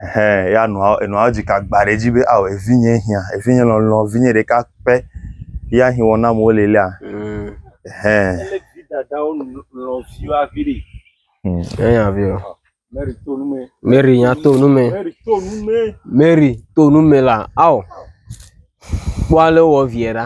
Ɛhɛɛ ya nɔa enɔa edzi ka gba ɖe edzi be ao evinye hiã, evinye lɔlɔ̃, vinye ɖeka pɛ ya hi wɔna me wole lea? Ɛhɛɛ. Enya vi o. Mary nya to nu me. Mary to nu me la ao. Kpɔ ale wowɔ viɛ ɖa.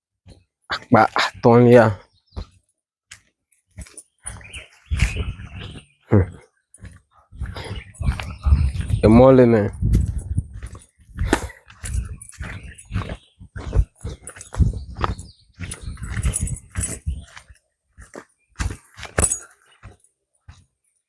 akpa atɔ̃lia. Hm. Emɔ le me.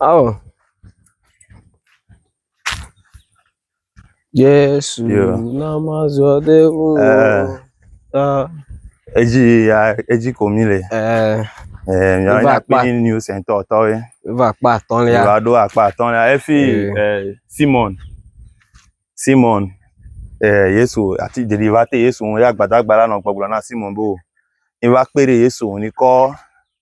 Oh. Yesu yeah. na mazɔ de wo. Uh, edzi ya edzi ko mi le. Uh, eh, mi ava kpa kpi new center tɔ ye. Eva kpa atɔlia. Eva ɖo akpa atɔlia efi uh, eh, Simon Simon uh, Yesu ati deli va te Yesu ŋu ya gbadagba la nɔ gbɔgblɔ na Simon bo. Eva kpe ɖe Yesu ŋu ni kɔ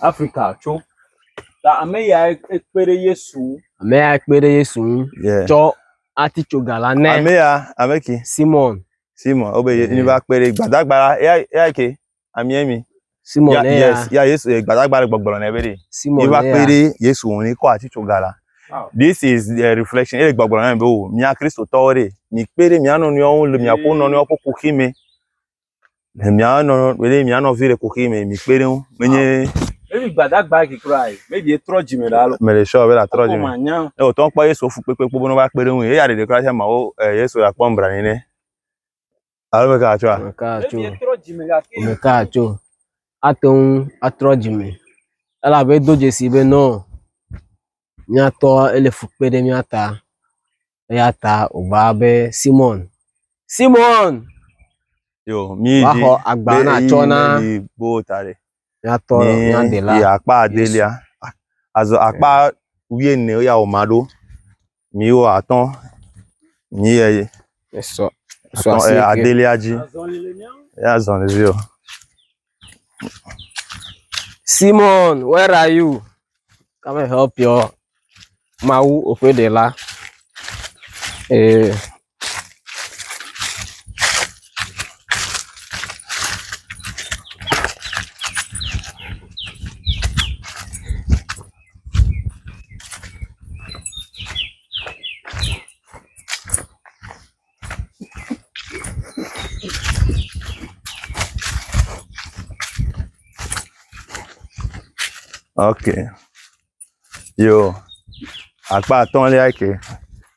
Afrika tso. Ta ame yae kpe ɖe Yesu ŋu. Ame yae kpe ɖe Yesu ŋu tsɔ atitsoga la nɛ. Ame ya, ame ke. Simɔn. Simɔn, wobe ye mi va kpe ɖe gbadagba la ya ya ke amie mi. Simɔn ya ya. Ya Yesu eh, gbadagba le gbɔgblɔ nɛ be ɖe. Simɔn ya. Mi va kpe ɖe Yesu ŋu ne kɔ atitsoga la. This is the reflection. Ele gbɔgblɔ nɛ be o, mia Kristotɔwo ɖe, mi kpe ɖe mia nɔnɔewo ŋu le miaƒe nɔnɔewo ƒe kuxi me. Ne mia nɔ ne mia nɔvi le kuxi me mi kpe ɖe ŋu menye. Ebi gbadagba gi kura yi. Mebi etrɔ dzi me ɖe alo. Me le sɔ be la trɔ dzi me. Ne o tɔ kpɔ Yesu fu kpekpe kpɔ bɔnɔ va kpe ɖe ŋu. Eya ɖeɖe kura sia ma o Yesu la kpɔ mbra ne ne. Alo me ka atso a? Me ka atso. Me ka atso. Ato ŋu atrɔ dzi me. Ela be do dzesi be nɔ míatɔ ele fu kpe ɖe mía ta. Eya ta wògba be, Simɔn, Simɔn, Yo, mí va dzi xɔ agba be na ɣeyiɣi tsɔ na meli boo ta ɖe. míatɔ Mí mía Ɖela yi akpa Yesu. adelia. A- Azɔ akpa wuiene wo ya wòma ɖo. Mí wo atɔ̃. Mí yɛ ye. Esɔ, esɔ Atɔ̃, asi eh, ke. adelia dzi. Eya zɔli dzi o. Simon, where are you? Come and help your Mawu oƒeɖela. Ee. ok yo akpa atɔ̃lia ke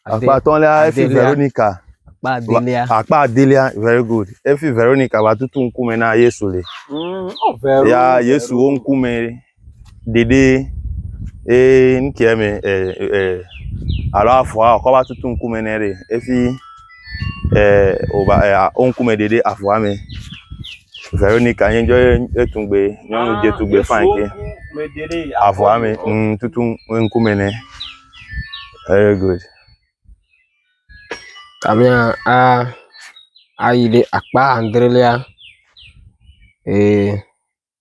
akpa atɔ̃lia efi adelia. veronica Akpa adelia. Va- akpa adelia very good efi veronica va tutu ŋkume na yesu le Mm, oh, very ya good. yesu wo ŋkume ɖeɖe ye ŋkɛ mɛ e e alo avɔa wòkɔ va tutu ŋkume nɛ ɖe efi e wova e a wo ŋkume ɖeɖe avɔa mɛ. Veronika ye ŋdɔ ye tugbe nyɔnu dze tugbe fani ke avɔa mɛ ŋ tutu ŋkume nɛ. Very good. Abe a ayi ɖe akpa adrelia ee.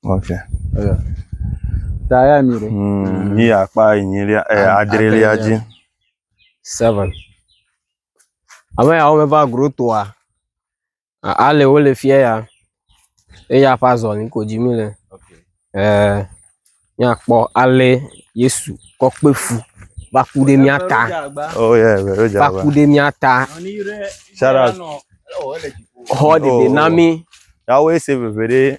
Okay. Eya. Ta ya mi ɖe. Mm, yi akpa enyilia, eh, Ad- adrelia adrelia. dzi. Seven. Ame yawo meva grotoa. A- Ale wo le fia ya. Eya ƒe azɔli ko dzi mi le. Eh, míakpɔ ale Yesu kɔ kpe fu va ku ɖe mía ta. Oh yeah, very Va java. ku ɖe mía ta. Shout out. Xɔ ɖeɖe na mi. Yawoe se veve ɖe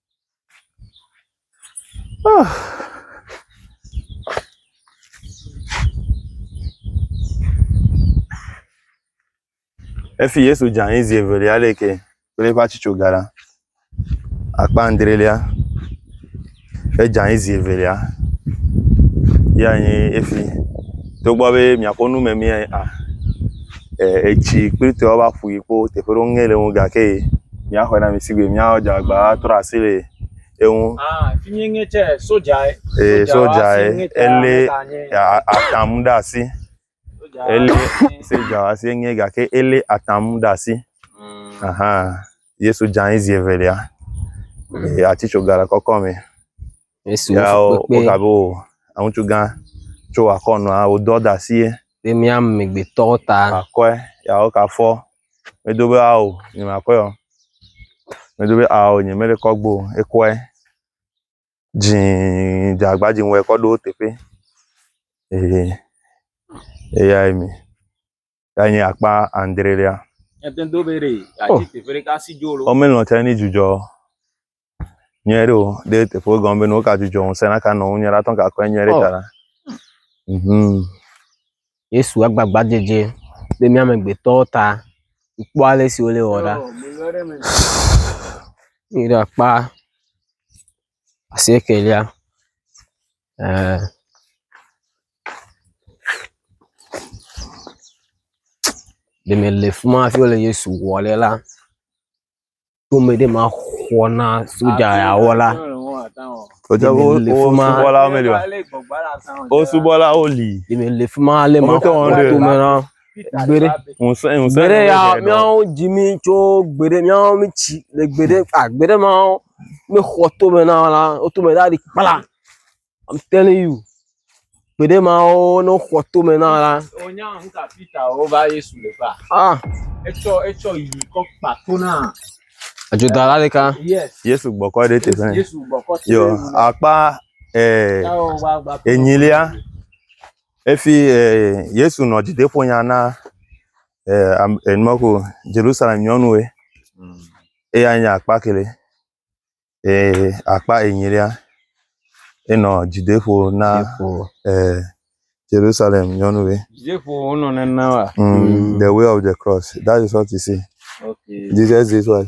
Efi Yesu dze anyi zi evelia le ke kple eƒe atsitsoga la, akpa adrelia, edze anyi zi evelia, ya nye efi. Togbɔ be miakpɔ nu memiãe a. etsi kplikpli va ƒo yi kpɔ teƒe aɖewo ŋe le ŋu gake míaxɔe na mi si gbe míadze agbagba atrɔ asi le eŋu. Ah, fi mi nye tsɛ soja ye. Ee, soja ye. Elé atamu ɖe asi. Elé soja asi nye gake elé atamu ɖe asi. Mm. Aha. Yesu dze anyi zi evelia. Mm. Atitsoga le kɔkɔ me. Ya wogabe o, aŋutsu gã tso akɔ nɔa wòdɔ da si ye. Ɖe mía amegbetɔwo ta. Akɔe, ya woka fɔ. Medo be ao, nye ma kɔe o. Medo be ao, nye mele kɔ gbo o, ekɔe. Dzĩĩĩ, dze agba dzĩ wɔ ekɔ ɖo teƒe. Ehe, eyae mi. Ya nye akpa andrelia. Ete do be ɖe oh. ati teƒe ɖeka si dzo lo. Ɔmɛ lɔn tɛ ni dzudzɔ. Nyɛ ɖe o ɖe teƒe wo gɔn be no ka dzudzɔ ŋusẽ na ka nɔ ŋu nyɛ ɖe atɔ ka kɔe nyɛ ɖe ta la. Mhm. Yesu agbagba dzedze ɖe mía amegbetɔwo ta. Kpɔ ale si wole wɔ ɖa. Mi ɖe akpa asiekɛlia, eeee. Ɖeme le fi ma hafi wole Yesu wɔ ɖe la, to me ɖe ma xɔ na sodza yawo la, Sodza wo Ɖeme le fi ma- wosubɔlawo meli oa? Wosubɔlawo li. ɖeme le fi ma ale ma Wometɔ wɔnu xɔ ɖe. to me na. Gbeɖe. Ŋusẽ, ŋusẽ. Gbeɖe ya míawo dzi mí tso gbeɖe míawo mí tsi le gbeɖe a gbeɖe mawo ne xɔ tome na wo la wotome ɖa ɖi kpla. I'm telling you. Gbeɖe mawo ne xɔ tome na wo la. Wonya nu ka Peter wova Yesu le ƒa. Ah. Etsɔ etsɔ yi kɔ kpa to na. Adzodala la ɖeka. Yes. Yesu gbɔkɔ ɖe teƒe. Yesu gbɔkɔ teƒe. Yo akpa eh enyilia. Efi Yesu nɔ dzideƒonya na enumako Jerusalem nyɔnuwe, eya nye akpa kele, akpa enyilia, enɔ dzideƒo na Jerusalem nyɔnuwe. Dzideƒo wonɔ nena wa? Mm, the way of the cross, that is what you see. Okay. Jesus is what?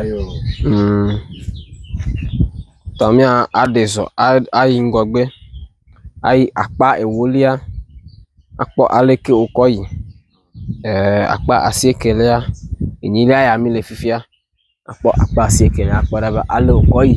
Ayo. Mm. Tɔmia aɖe zɔ ayi ŋgɔgbe ayi akpa ewolia akpɔ aleke wokɔ yi e akpa asiekelia enyilia ya mi le fifia akpɔ akpa asiekelia akpɔ ale wokɔ yi.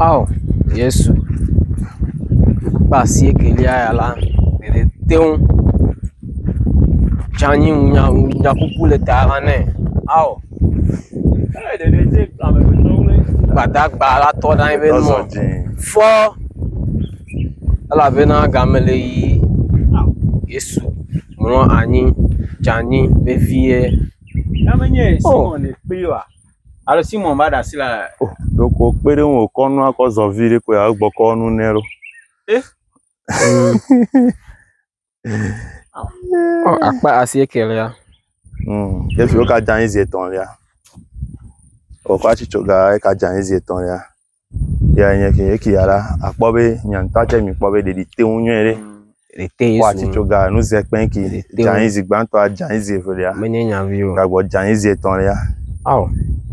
Ao Yesu, ƒe asiekelia ya la, ɖeɖe te ŋu tsɔ anyi ŋu nya ŋu nya ƒuƒu le ta la nɛ. Ao Gbadagba la tɔ ɖe anyi be nɔ fɔ elabena game le yiyi. Yesu mlɔ anyi dze anyi vevie. Oo. Alo Simon va ɖe asi le. O ɖoko kpe ɖe ŋu wòkɔ nua kɔ zɔ vi ɖe koe agbɔ kɔ nu nɛ ɖo. Eh. Ɔ akpa asi ekelia. Hmm. Yesu ka dza anyi zi etɔ̃lia. Wòkɔ atsitso ga eka dza anyi zi etɔ̃lia. Eyae nye esi. Esia la, akpɔ be nye ŋutɔ tsɛ mekpɔ be ɖeɖi te ŋu nyuie ɖe. Ɖe te Yesu. Kpɔ atitsoga nu ze kpɛn ki. Ɖe te ŋu. Dzanyizi gbãtɔa, dzanyizi evelia. Menye nyavi o. Gagbɔ dzanyizi etɔ̃lia. Ao.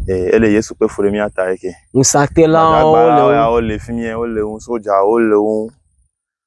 Ee, ele Yesu kpe fu ɖe mía ta eke. Ŋusãtelawo le Gbadagbawo wo. ya wole fi mie, wole wo, sodzawo le wo ŋu.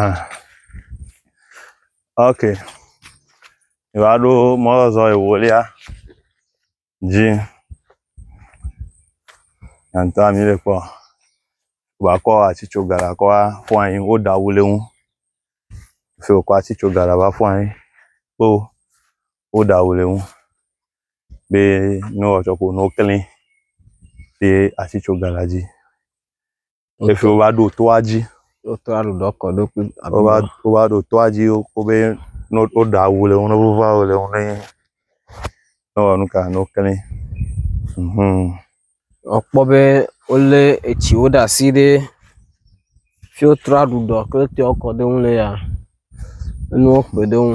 Ah. Ok. Ìva ɖo mɔzɔzɔ ewolia dzi. Yantɔ ami le kpɔ. Wakɔ atsitso gara kɔ afɔ anyi woɖa awu le ŋu. Fi wokɔ atsitso gara va fɔ anyi kpo woɖa awu le ŋu. Be ne woatsɔ ko ne wokli ye atsitso gara dzi. Efi wova ɖo toa dzi. Wotɔ aɖo dɔ kɔ ɖo kple aɖo. Wova wova ɖo toa dzi wo be no woɖa awu le ŋu ne wova awu le ŋu ne ne wɔ nu ka ne wokle. Mhm. Wokpɔ be wolé etsiwo ɖe asi ɖe fi wotrɔ aɖu dɔ kle toa kɔ ɖo ŋu le ya enuwo kpe ɖe ŋu.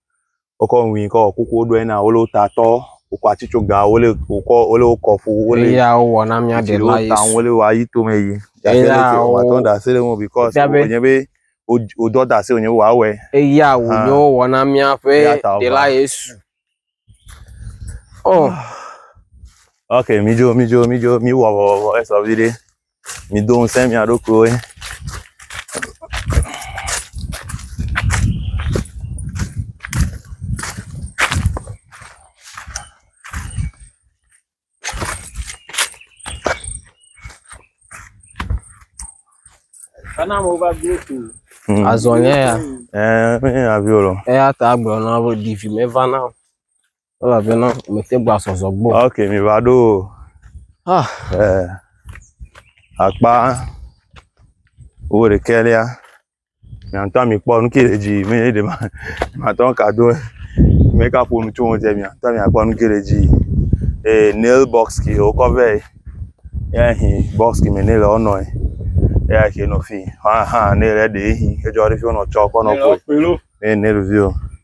wokɔ nu ʋi kɔ wɔ kuku woɖo ena wole wo ta tɔ wokɔ atitsoga wole wokɔ wole wo kɔ ƒu wole eya wowɔ na mía ɖe la yesu ta wole wa yi tome yi eya wo atɔ da se le ŋu because wonye be wodɔ da se wonye be wòawɔe eya wonye wowɔ na míaƒe ɖe la yesu oh ok mi dzo mi dzo mi dzo mi wɔ wɔ wɔ esɔ vi ɖe. mido ŋusẽ mia ɖokuiwo. Kana mo va gbé tu. Hmm. Azɔnyɛ ya. Ɛɛ, eh, mi aviolo. Eya ta agblɔ na wo divi me va na. Elabena mete gba sɔsɔ gbɔ. Ok, mi va ɖo. Ah. Eh, akpa wo de kelia. Mi antɔ mi kpɔ nu ke le dzi, mi de ma. Ma tɔ ka do. Mi ka po nu tso mo je mi antɔ mi akpɔ nu ke le dzi. Eh, nail box ki o ko ve. Ya hi box ki me ne le ono. Ya ke no fi. Ha ha, ne le de hi. Ke jo re fi ono cho ko no ko. Ne ne review.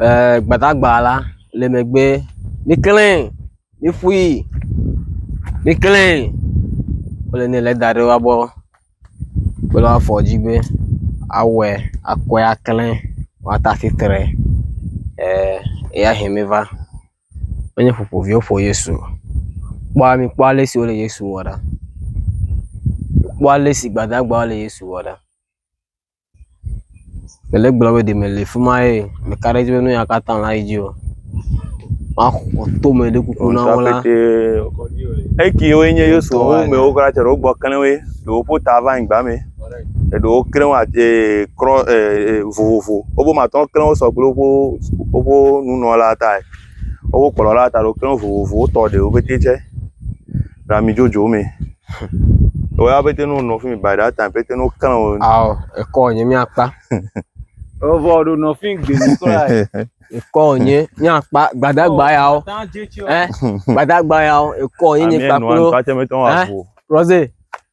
eh, gbadagba la le megbe miklẽ miƒui miklẽ wole ne le da ɖe wa gbɔ kple afɔ dzi be awɔe akɔe aklẽ woate afi tre eh, eya he miva menye ƒoƒoviwo ƒo yesu o kpɔ mikpɔ ale si wole yesu wɔ ɖa kpɔ ale si gbadagbawo le yesu wɔ ɖa Ele gblɔ be ɖeme le fi ma ye meka ɖe edzi be nu ya katã la yi dzi o. Maxɔ tome ɖe kuku na wo la. Ekewoe nye Yesu wo mewo katã tsɔ ɖe wogbɔ klẽ woe. Ɖewo ƒo ta va anyigba me. Eɖewo klẽ wo at e krɔ e e vovovo. Wobo me atɔ klẽ wo sɔ kple woƒe woƒe nunɔla tae. Woƒe kplɔla ta ɖewo klẽ wo vovovo wotɔ ɖewo pɛte tsɛ. le ami dzodzo me. Wɔ ya pete no nɔ fi mi by that time pete no kan o. Ao ekɔ nye miakpa. Evo ɖo nɔ fi gbe mi kɔ ya. Ekɔ nye miakpa gbadagba yawo. Eh gbadagba yawo ekɔ nye nye kpa klo. Eh Rose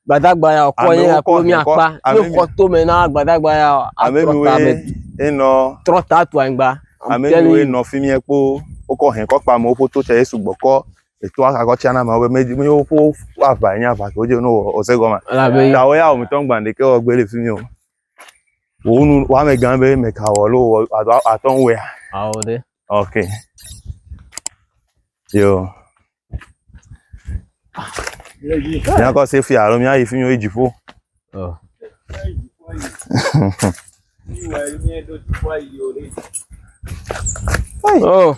gbadagba yawo kɔ nye ya klo miakpa. Ne kɔ to me na gbadagba yawo. Ame mi wo enɔ. Trɔta tu anyigba. Ame mi wo enɔ fi mi ekpo. Wokɔ hɛn kɔ kpa me woƒo to tɛ esu gbɔkɔ. eto aka kɔ tsana ma be me me wo ƒe aʋa nye aʋa ko dze no wɔ ose gɔma Elabe- ta wo ya wɔmitɔ ŋgba ɖeke wɔ gbe le fi mi o wo nu wo ame gã be me ka wɔ lo wɔ ado atɔ ŋu wɛa Ao ɖe. ok yo míakɔ se fi alo míayi fi mi wo yi dziƒo Ɔ. Ɔ.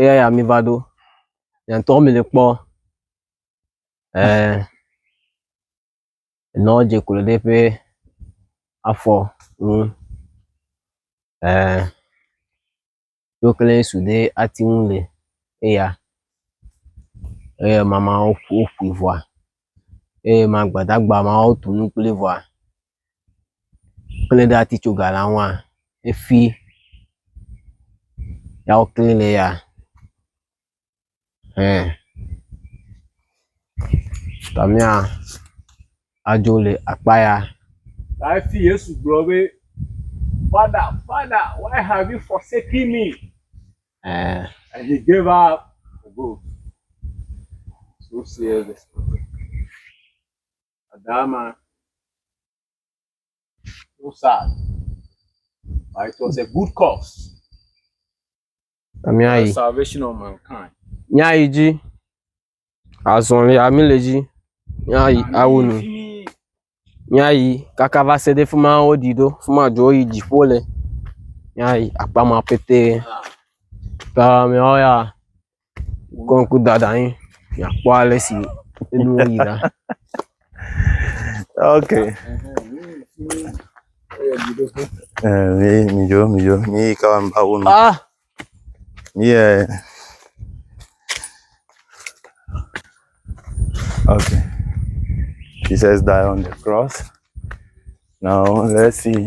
eya ya mi va ɖo yantɔ mi le kpɔ eh nɔ dze klo ɖe ƒe afɔ ŋu eh yo kle su ɖe ati ŋu le eya eye mama wo ƒu ƒu vɔa eye ma gbadagba ma wo tu nu kple vɔa kple ɖe ati tso ga la ŋua efi ya wo clean ne ya hɛ ta mía adzo le akpa ya. Ta efi Yesu gblɔ be Father, Father, why have you forsaken me? Eh. And he gave up the ghost. So serious. Adama so sad but it was a good cause. Amiayi. The salvation of mankind. Nyayi dzi. Azɔli ami le dzi. Nyayi awo nu. Nyayi kaka va se ɖe fima wo ɖi ɖo fima dzo yi dziƒo le. Nyayi akpama pete. Kamiawo ya. kɔŋkudada anyi miakpɔ ale si nuwo yi ɖa. ok Eh, mi mi dzo mi dzo mi yi ka wam ba wo nu Ah, mi yɛ ok Jesus died on the cross now let's see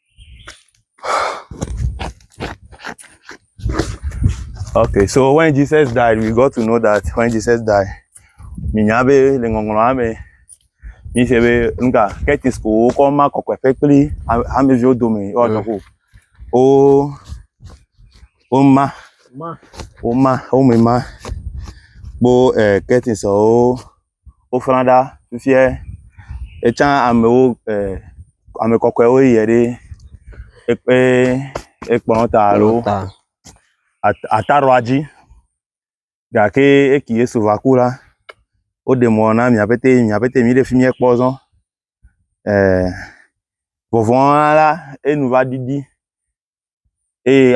Okay, so when Jesus died, we got to know that when Jesus died, minya be le ŋɔŋlɔa me mi se be nuka ketis ko wokɔ ma kɔkɔeƒe kpli hameviwo dome woanɔ ko wo woma woma wome ma kpo eh, ketisɔwo. woƒlã ɖa fifia etsã amewo e ame kɔkɔewo yie ɖi eƒe ekplɔ ta alo ata ɖoa dzi gake esi Yesu va ku la woɖe mɔ na mia pɛtɛ mia pɛtɛ mi ɖe fi mie kpɔ zɔ e vɔvɔ̃ la enu va ɖiɖi. eye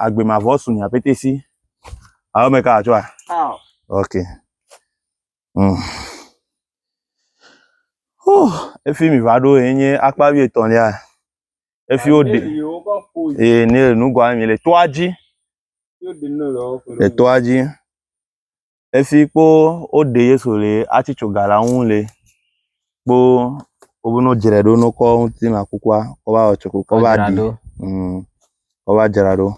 agbe mavɔ su nya pete si awo me ka atsɔ a ok mm. oh, efi mi va ɖo ye nye akpa wi etɔ̃lia efi wo de eye ne nugoa mi le toa dzi le toa dzi. Esi kpo woɖe Yesu le atsi tso ga la ŋu le kpo wobe no dzrae ɖo no kɔ ŋuti na kukua kɔ va wɔ tsoko kɔ va ɖi. Adzraɖo. Mm, kɔ va dzra ɖo.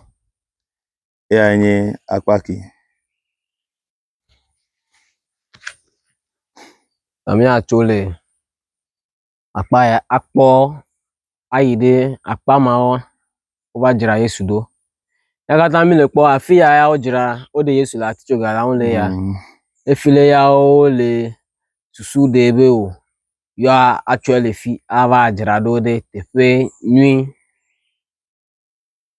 Eya nye akpa ke. Nɔ míatso le akpa ya akpɔ ayi ɖe akpa mawo wova dzra Yesu ɖo. Eya katã mí le kpɔ afi ya ya wodzra woɖe Yesu le atitsoga la ŋu le ya. Efi le ya wole susu ɖe be o yewoa atsɔe le fi ava dzra ɖo ɖe teƒe nyui.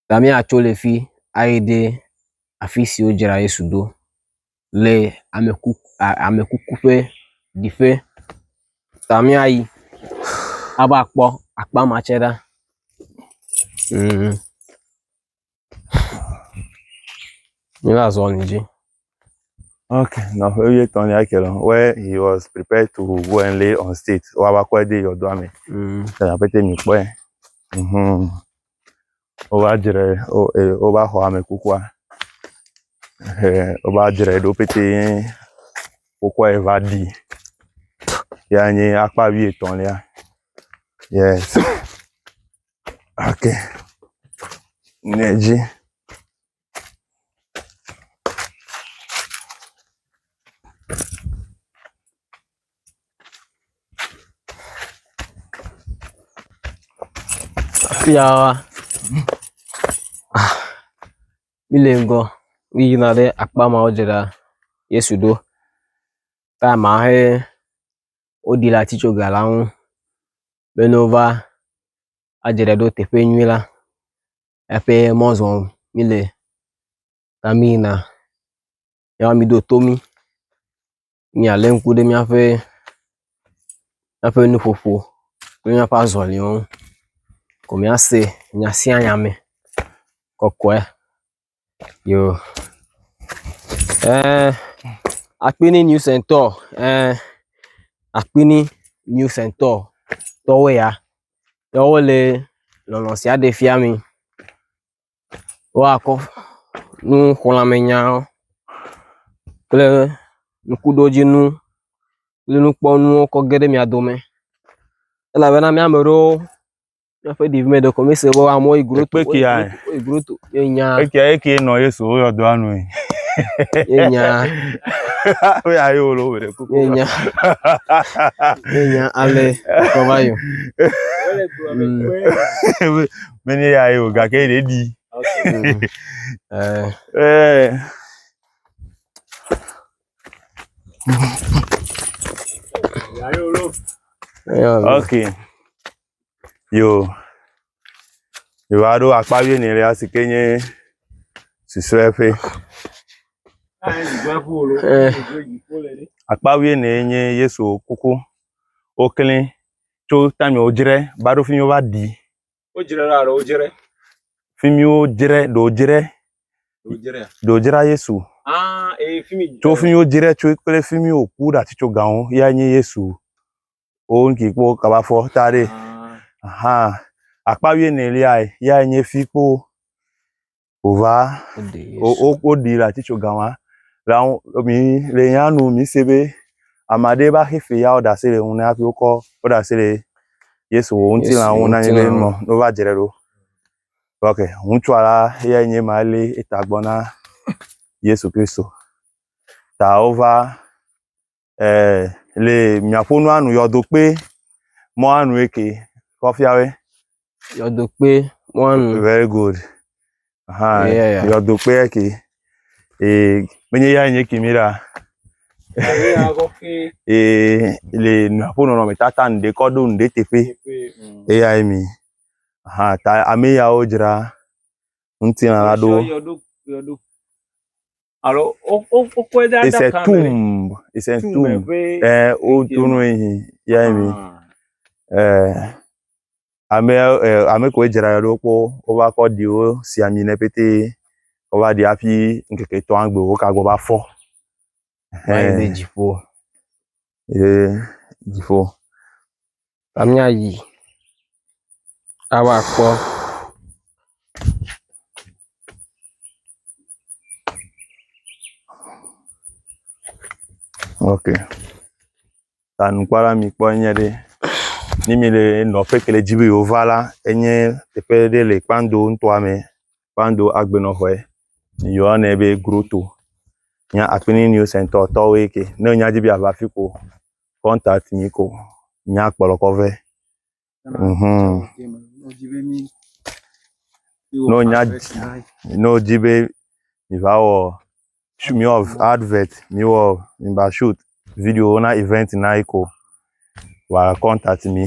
Gamea tso le fi ayi ɖe afi si wodzra Yesu ɖo le ame ku ame kuku ƒe ɖiƒe. Gamea yi ava kpɔ akpa ma tsɛ ɖa. Mí va zɔ le dzi. Ok, nɔƒe wuietɔ̃ ya ke lɔ where he was prepared to go and lay on state wava kɔe de yɔdoa me. Mm. Tena pete mi kpɔe. Mhm. Wova dzre wo- eh, wova xɔ ame kukua. Eh, Wova dzre ɖo pete wokɔe va ɖi. Ya nye akpa wuietɔ̃lia. Yes. Ok. Ne dzi. Afia mi le ŋgɔ mi yina ɖe akpa mawo dze ɖa Yesu ɖo ta ma he woɖi le atitso ga la ŋu be ne wova adze ɖe ɖo teƒe nyui la. eƒe mɔ zɔm míle ta míyina ya woa miɖo to mí míalé ŋku ɖe míaƒe míaƒe nuƒoƒo kple míaƒe azɔliwo ŋu ko míase nya sia nya me kɔkɔe yo eh, akpini new centre eh, akpini new centre tɔwoe ya ya wo le nɔnɔ sia ɖe fia mi. Woakɔ nuxlɔ̃amenya kple ŋkuɖodzinu kple nukpɔnuwo kɔ ge ɖe mia dome elabena mía ame aɖewo míaƒe ɖevi me ɖeko míese be amewo yi gro… Yenya. Eke eke nɔ Yesu wo yɔ doa nui. Yenya. Wo ya yo lo wele kuku. Yenya. Yenya ale kɔba yo. Mene ya yo gake ɖe di. Eh. Eh. Ya yo lo. Okay. Yo yewoaɖo akpa wuienɛlia si ke nye susɔeƒe. Akpa wuiene nye Yesu kuku. Woklẽ tso time wodzre va ɖo fi mi wova ɖii. Wodzre ɖoa alo wodzre? Fi mi wodzre ɖe wodzre. Wodzrea? Ɖe wodzra Yesu. Ah ee fi mi. Tso fi mi wodzre tso kple fi mi woku ɖe atitsogawo yae nye Yesu. wo ŋki kpɔ kaba fɔ ta ɖe aha akpa wie ne lia ya nye fi kpɔ ova o o o ɖi la titso gawa la ŋu mi le ya nu mi se be amade ba xe fe ya o da se le ŋu ne afi wokɔ o da se le yesu wo ŋuti la ŋu na nye be nɔ no va dzre ɖo ok ŋutsu ala ya nye ma le eta gbɔ na yesu kristu ta wova eh, le miaƒo nu anu yɔdokpe mɔ anu eke kɔfiawe. Yɔdokpe mɔ anu. Very good. Aha, yeah, yeah. yɔdokpe eke. Eh, menye ya nye kimi ɖa. eh, le miaƒo nɔnɔme tata ŋɖe kɔ ɖo ŋɖe teƒe. Mm. Eya ye mi. Aha, ta ame yawo dzra ŋutilã la ɖo. Yɔdo, yɔdo. alo wokɔe ɖe adaka me. it's a tomb it's a tomb ɛɛ wotu nu yi ya mi ɛɛ ame ɛɛ ame koe dzra ɖo kpɔ wova kɔ ɖiwo si ami nɛ pete wova ɖi hafi ŋkeke etɔ̃a gbe woka gbɔ va fɔ. ɛɛ. ye dziƒo la míayi ava kpɔ. Ok, ta nukpɔla mi kpɔ enye ɖe, ne mi le nɔƒe ke le dzi be yewo va la, enye teƒe ɖe le Kpando ŋutɔa me, Kpando agbenɔƒe. Yɔnɛ be groto. Nye Akpini News Center tɔwoe ke. Ne nya dzi be yeava afi ko, contact mi ko míakplɔkɔ vɛ. Mhm. Ne wonya ne wodi be miva wɔ sh- miwɔ advert, miwɔ miva shoot video na event na yi ko, wa contact mi.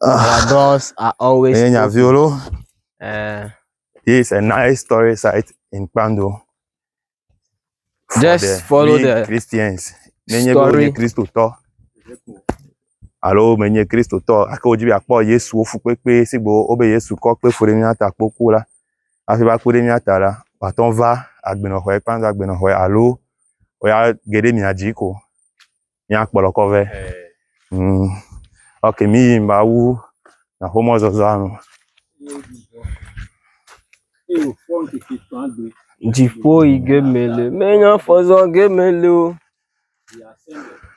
Their doors are always Enye nya viwo loo. Eh, This is a nice story site in Kpando. For Just the follow we the Christians. Nenye be story. wonye Kristotɔ alo menye Kristotɔ ake wodzi be akpɔ Yesuwo fukpekpe si gbe wobe Yesu kɔ kpe fu ɖe mía ta kpo ku la hafi va ku ɖe mía ta la woatɔ va agbenɔxɔe kpando agbenɔxɔe alo woya ge ɖe mia dzi ko. míakplɔkɔ vɛ. Humm, ok mí yim ba wu na xomɔzɔzɔa nu. Dziƒo yi ge mele, menye afɔ zɔ ge mele o.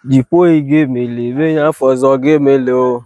Dziƒo yi ge mele, menye afɔ zɔ ge mele o.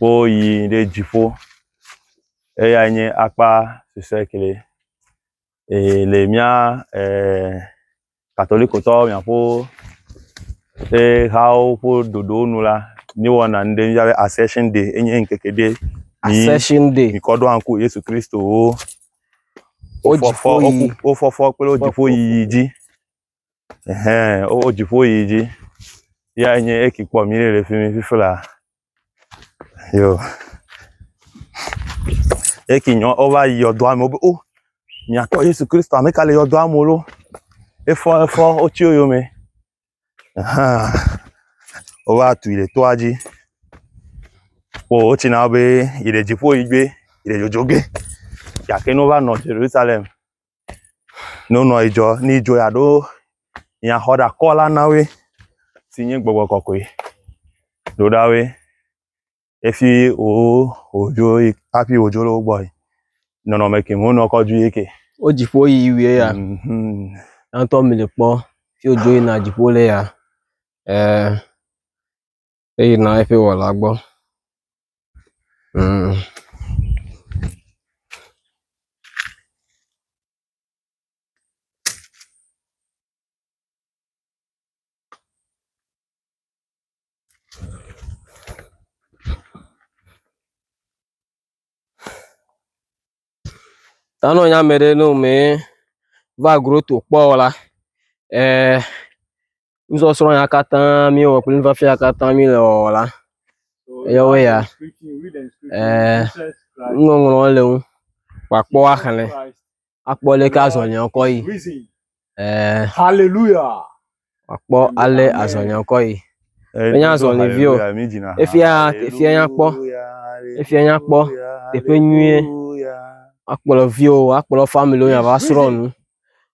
woyi ɖe dziƒo eyae nye akpa recycling eye le mía e katolikotɔwo mía ƒe ƒe hawo ƒe ɖoɖo nu la mí wɔna nu ɖe yɔna be asession day enye ŋkeke ɖe yi mí kɔ ɖo ŋku Yesu Kristo wo fɔfɔ kple wo dziƒo yiyi dzi. Ɛhɛɛ wowó dziƒo yi dzi ya enye eki kpɔ mí le fimi fifla yo eki nyɔ wova yi yɔdoa me wo be o miatɔ Yesu Kristo ameka le yɔdoa me lo efɔ efɔ wotsi wo yome ahan wova tui le toa dzi kpɔ wotsi na wo be yi le dziƒo yi dzoe yi le dzodzo ge gake ne wova nɔ Ʒerusalɛm. Ne wonɔ yi dzɔ ne yi dzɔ ya ɖo ya xɔ ɖa kɔ la na woe si nye gbɔgbɔ kɔkɔe. Ɖo ɖa woe efi wo wodzo yi hafi wodzo le wo gbɔ yi. Nɔnɔme ke mo nɔ kɔ dzu yi ke. Wo dziƒo yi wie ya. Mhm. Yantɔ mi le kpɔ fi wodzo yina dziƒo le ya. Eh. eyina eƒe wɔla gbɔ. Mmm. Tanɔ nya me ɖe no mɛ va groto kpɔ o la, eh, nusɔsrɔ̃ ya katã mi wɔ kple nufiafia ya katã mi le wɔwɔ la, yewoe ya, eh, nuŋɔŋlɔ le ŋu, kpakpɔ axlẽ, akpɔ leke azɔliawo kɔ yi. Ɛɛ. Hallelujah. Akpɔ ale azɔnyakɔ yi. Enye azɔlivio. Efia efia nyakpɔ. Efia nyakpɔ teƒe nyuie. Akplɔ viwo, akplɔ family wo va srɔ̃ nu.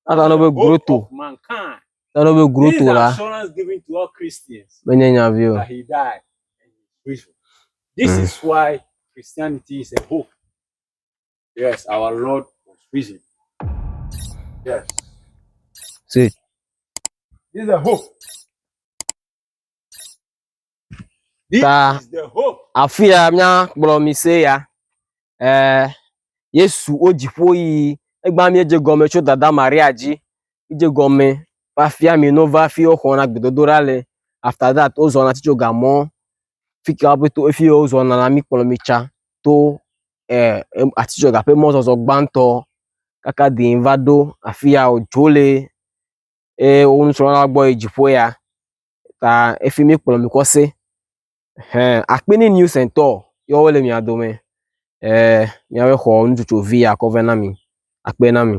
Ata no be groto. Ata no be groto la. Menye nya vio. This is why Christianity is a hope. Yes, our Lord was risen. Yes. See. This is the hope. This Ta, is the hope. Afia mia kplɔ mi se ya. Eh, Yesu o dziƒo yi. Egba mi dze gɔme tso dada Maria dzi. Dze gɔme va fia mi no va fi o xɔna gbedodoɖa le. After that, o zɔna titso gamɔ. Fika o to efi o zɔna la mi kplɔ mi tsa to atizɔti ƒe mɔzɔzɔ gbãtɔ kaka dii va ɖo afi ya dzo le eye wo nusrɔ̃la gbɔ yi dziƒo ya ta efi mi kplɔ mi kɔ se ehe akpi ni new sɛntɔ ye wole mia dome e miaƒe xɔ nutsotso vi ya kɔ vɛ na mi akpe na mi.